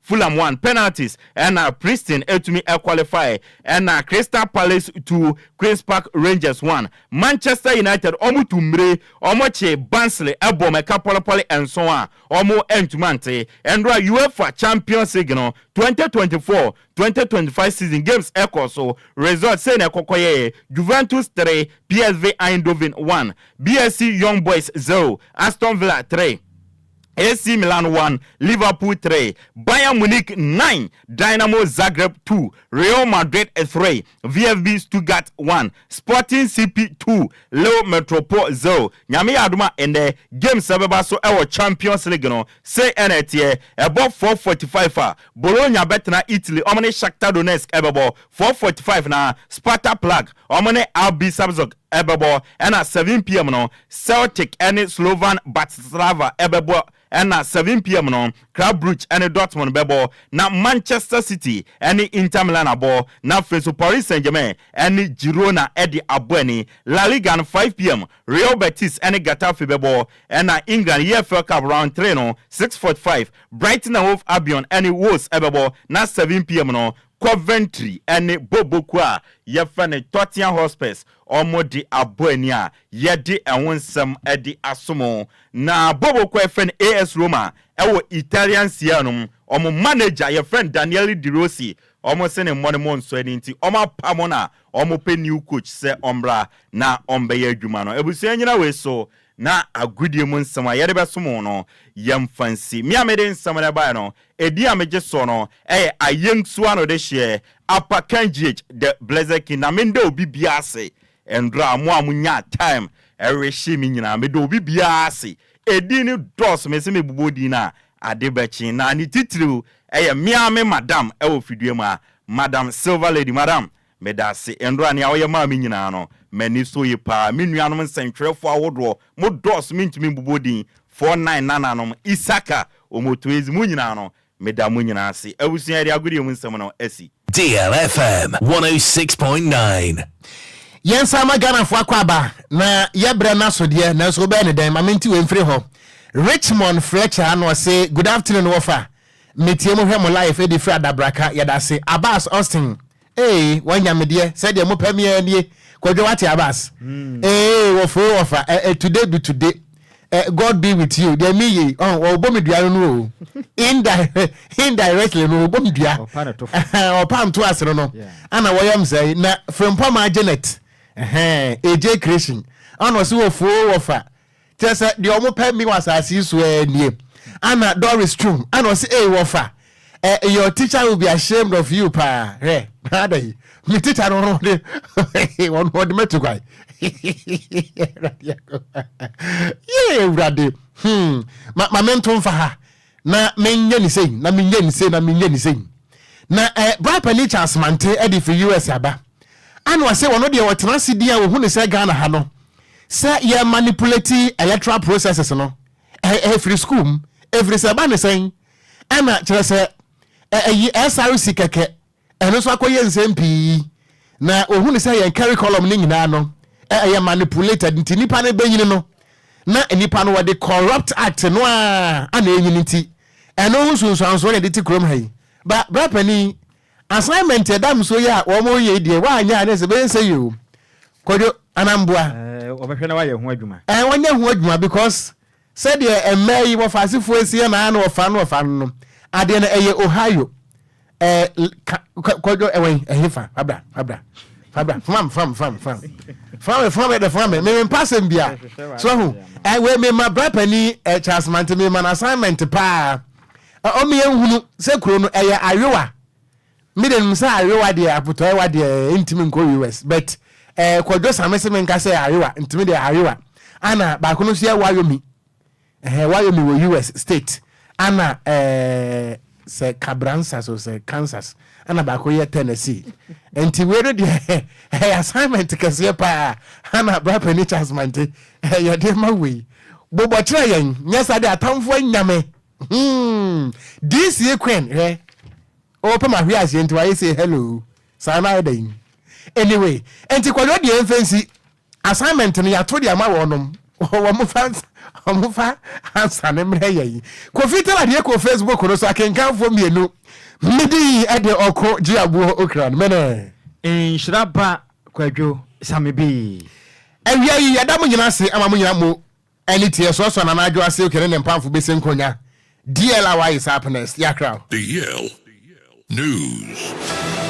Fulham won penalties ɛna Preston atumi qualify ɛna Crystal Palace two Queens Park Rangers one Manchester United ɔmo tu mmire ɔmo kye Barnsley ɛbɔ ɔmo ɛka pɔlepɔle nson a ɔmo ɛntumi ante ɛndra UEFA Champions League no twenty twenty four twenty twenty five season games ɛkɔɔ so Results sei na ɛkɔkɔyɛɛ Juventus three PSV Eindhoven one BSC Young Boys zero Aston Villa three AC Milan won, Liverpool three, Bayern Munich nine, Dynamo Zagreb two, Real Madrid three, VfB Stuttgart one, Sporting CP two, Lille Metropole zero. Nyame yɛ adom a ɛnnɛ games a ɛbɛba so wɔ Champions League no sei ɛna ɛteɛ, ɛbɔ four forty five a Bologna bɛtena Italy wɔn ne Shakhtar Donetsk ɛbɛbɔ, four forty five na Sparta Prague wɔn ne RB Salzburg ɛbɛbɔ ɛna seven pm no Celtic ne Slovan Bratislava bɛbɔ na seven pm no Club Brugge ne Dortmund bɛbɔ na Manchester City ne Inter Milan abɔ na afei nso Paris Saint-Germain ne Girona de abɔ ani. La Liga no five pm Real Betis ne Getafe bɛbɔ na England EFL Cup Round three no six forty five Brighton and Hove Albion ne Wolves bɛbɔ na seven pm no Coventry ne Boboku a yɛfrɛ no Tottenham Hotspurs ɔmo de abɔ ani a yɛde ɛho nsɛm de aso mo. Na Boboku a yɛfrɛ no AS Roma ɛwɔ Italian Serie no ɔmo manager yɛfrɛ no Daniele De Rossi ɔmo se ne mmɔne mo nsɔ ani nti ɔmo apa mo na ɔmo pɛ new coach sɛ ɔmmra na ɔmbɛyɛ adwuma no. Abusua nnyina wei so na agodie mu nsɛm a yɛde bɛsom wo no, yɛmfa nsi. Me a mede nsɛm no baeɛ no, edin a megye soɔ no yɛ Ayɛntuo Ano Dehyeɛ, Apa Kandjiech, The Blessed King. Na mennda obi biara ase nnora a mo a monyaa time rehye me nyinaa. Meda obi biara ase. Edin no dɔɔso, mese mebobɔ din no a, ade bɛkye. Na ne titiriw yɛ me ara me madam wɔ fidua mu ha, Madam Silver Lady. Madam, Medase ndɔ a nea ɔyɛ maa me nyinaa no, m'ani so ye paa. Me nuanom nsɛntwerɛfoɔ ahodoɔ, mo dɔɔso mentumi mbobɔ din, four nine nananom, Isaka, Omotoezi, mo nyinaa no, meda mo nyinaa ase. Abusua, yɛde agodie mu nsɛm no asi. Deal FM 106.9. Yɛn nsa ama Ghanafoɔ akwaaba na yɛbrɛ no asodeɛ nanso wobɛyɛ no dɛn? Ma mente wei mfiri hɔ. Richmond Fletcher ano ɔse Good afternoon wɔfa. Metie mo hwɛ mo live ɛdi firi adabraka. Yɛdase. Abbas Austin Ee wanya me deɛ sɛdeɛ mo pɛ me ara nie kwadwo wate abas ee wɔfrɛ wɔfa eh, today be today eh, God be with you deɛ me yei ɔn wɔbɔ me dua no no o indirect indirectly no wɔbɔ me dua ɔpa nto ase no no ana wɔyɛ m sɛe na frempɔ ma Janet ɛhɛn AJ creation ɔna ɔse wɔfoo wɔfa Kyerɛ sɛ deɛ wɔn pɛ me wɔ asase yi so ɛɛ nie. Ana Doris twom ana ɔse ei wɔfa ɛ your teacher will be ashamed of you paa hwɛ ada yi me teacher no ɔno ɔde ɔno ɔde mɛtu kwan yee awurade hmm ma ma mento mfa ha na menyɛ ne sei na menyɛ ne sei na menyɛ ne sei na ɛ eh, bra panin Charles Mante ɛde firi US aba ana ɔse wɔn deɛ ɔtena ase din a wɔhu ne sɛ Ghana ha no sɛ yɛ manipulate electoral processes no ɛ ɛ firi school mu ɛfiri sɛ ɛba ne sɛn ɛna kyerɛ sɛ ɛ ɛyi SRC kɛkɛ Ɛno nso akɔyɛ nsɛm pii na wɔhu no sɛ yɛn curriculum no nyinaa no ɛyɛ manipulated nti nipa no bɛnyini no na nipa no wɔde corrupt act no a ana ɛnyini nti ɛno ho nsunsuansoɔ na ɛde te kurom ha yi ba bra panin assignment ɛda mso yi a wɔn yɛ deɛ wɔanyɛ a ne sɛ bɛyɛ sɛ yi o kodwo anamboa ɛɛ wɔbɛhwɛ na wɔayɛ ho adwuma ɛɛ wɔnyɛ ho adwuma because Sɛdeɛ mmaa yi wɔfa asefoɔ nsia na na wɔfa no wɔfa no no, adeɛ no ɛyɛ Ohio, ɛɛ ka kɔ kɔdwo ɛwɛn ɛhe fa fa bra fa bra fa bra fam fam fam fam fam me fam me de fam me me mpa asɛm bia so ho ɛɛ wei me ma bra panin ɛɛ Charles Mante me ma no assignment paa ɔmo yɛn hunu sɛ kuro no ɛyɛ ayowa Me de menim sɛ ayewa deɛ apotɔewa deɛ ntimi nkɔ US but eh kwadwo same se menka sɛ ayewa nti me deɛ ayewa ana baako no nso yɛ wayomi eh wayomi wɔ US state ana eh sɛ cabransas o sɛ Kansas ana baako yɛ Tennessee nti wei no deɛ ɛyɛ assignment kɛseɛ paa ana bra pani Charles Mante eh yɛde ma wei bobɔ kyerɛ yɛn nyɛ saa de atamfo anya me hmm DC Queen hwɛ Oh pɛ mahwe aseɛ nti wayɛ sei hello saa no ayɛ dɛn anyway nti kwadwo deɛ ɛmfa nsi assignment no yɛato de ama wɔnom wɔmfa wɔmfa ansa ne mmerɛ yɛn kofi tala deɛ kɔ facebook no so akenkanfoɔ mmienu medi yi ɛde ɔko gye aboɔ okra no mene nhyira ba kwadwo same bi. Awia yi yɛda mo nyina ase ama mo nyina mo Ɛne tiɛ so ɔsɔ Nana Adwo ase ok ne ne mpamfo bɛsɛ nkonya DL a waye saa pnɛs yakra o. DL news.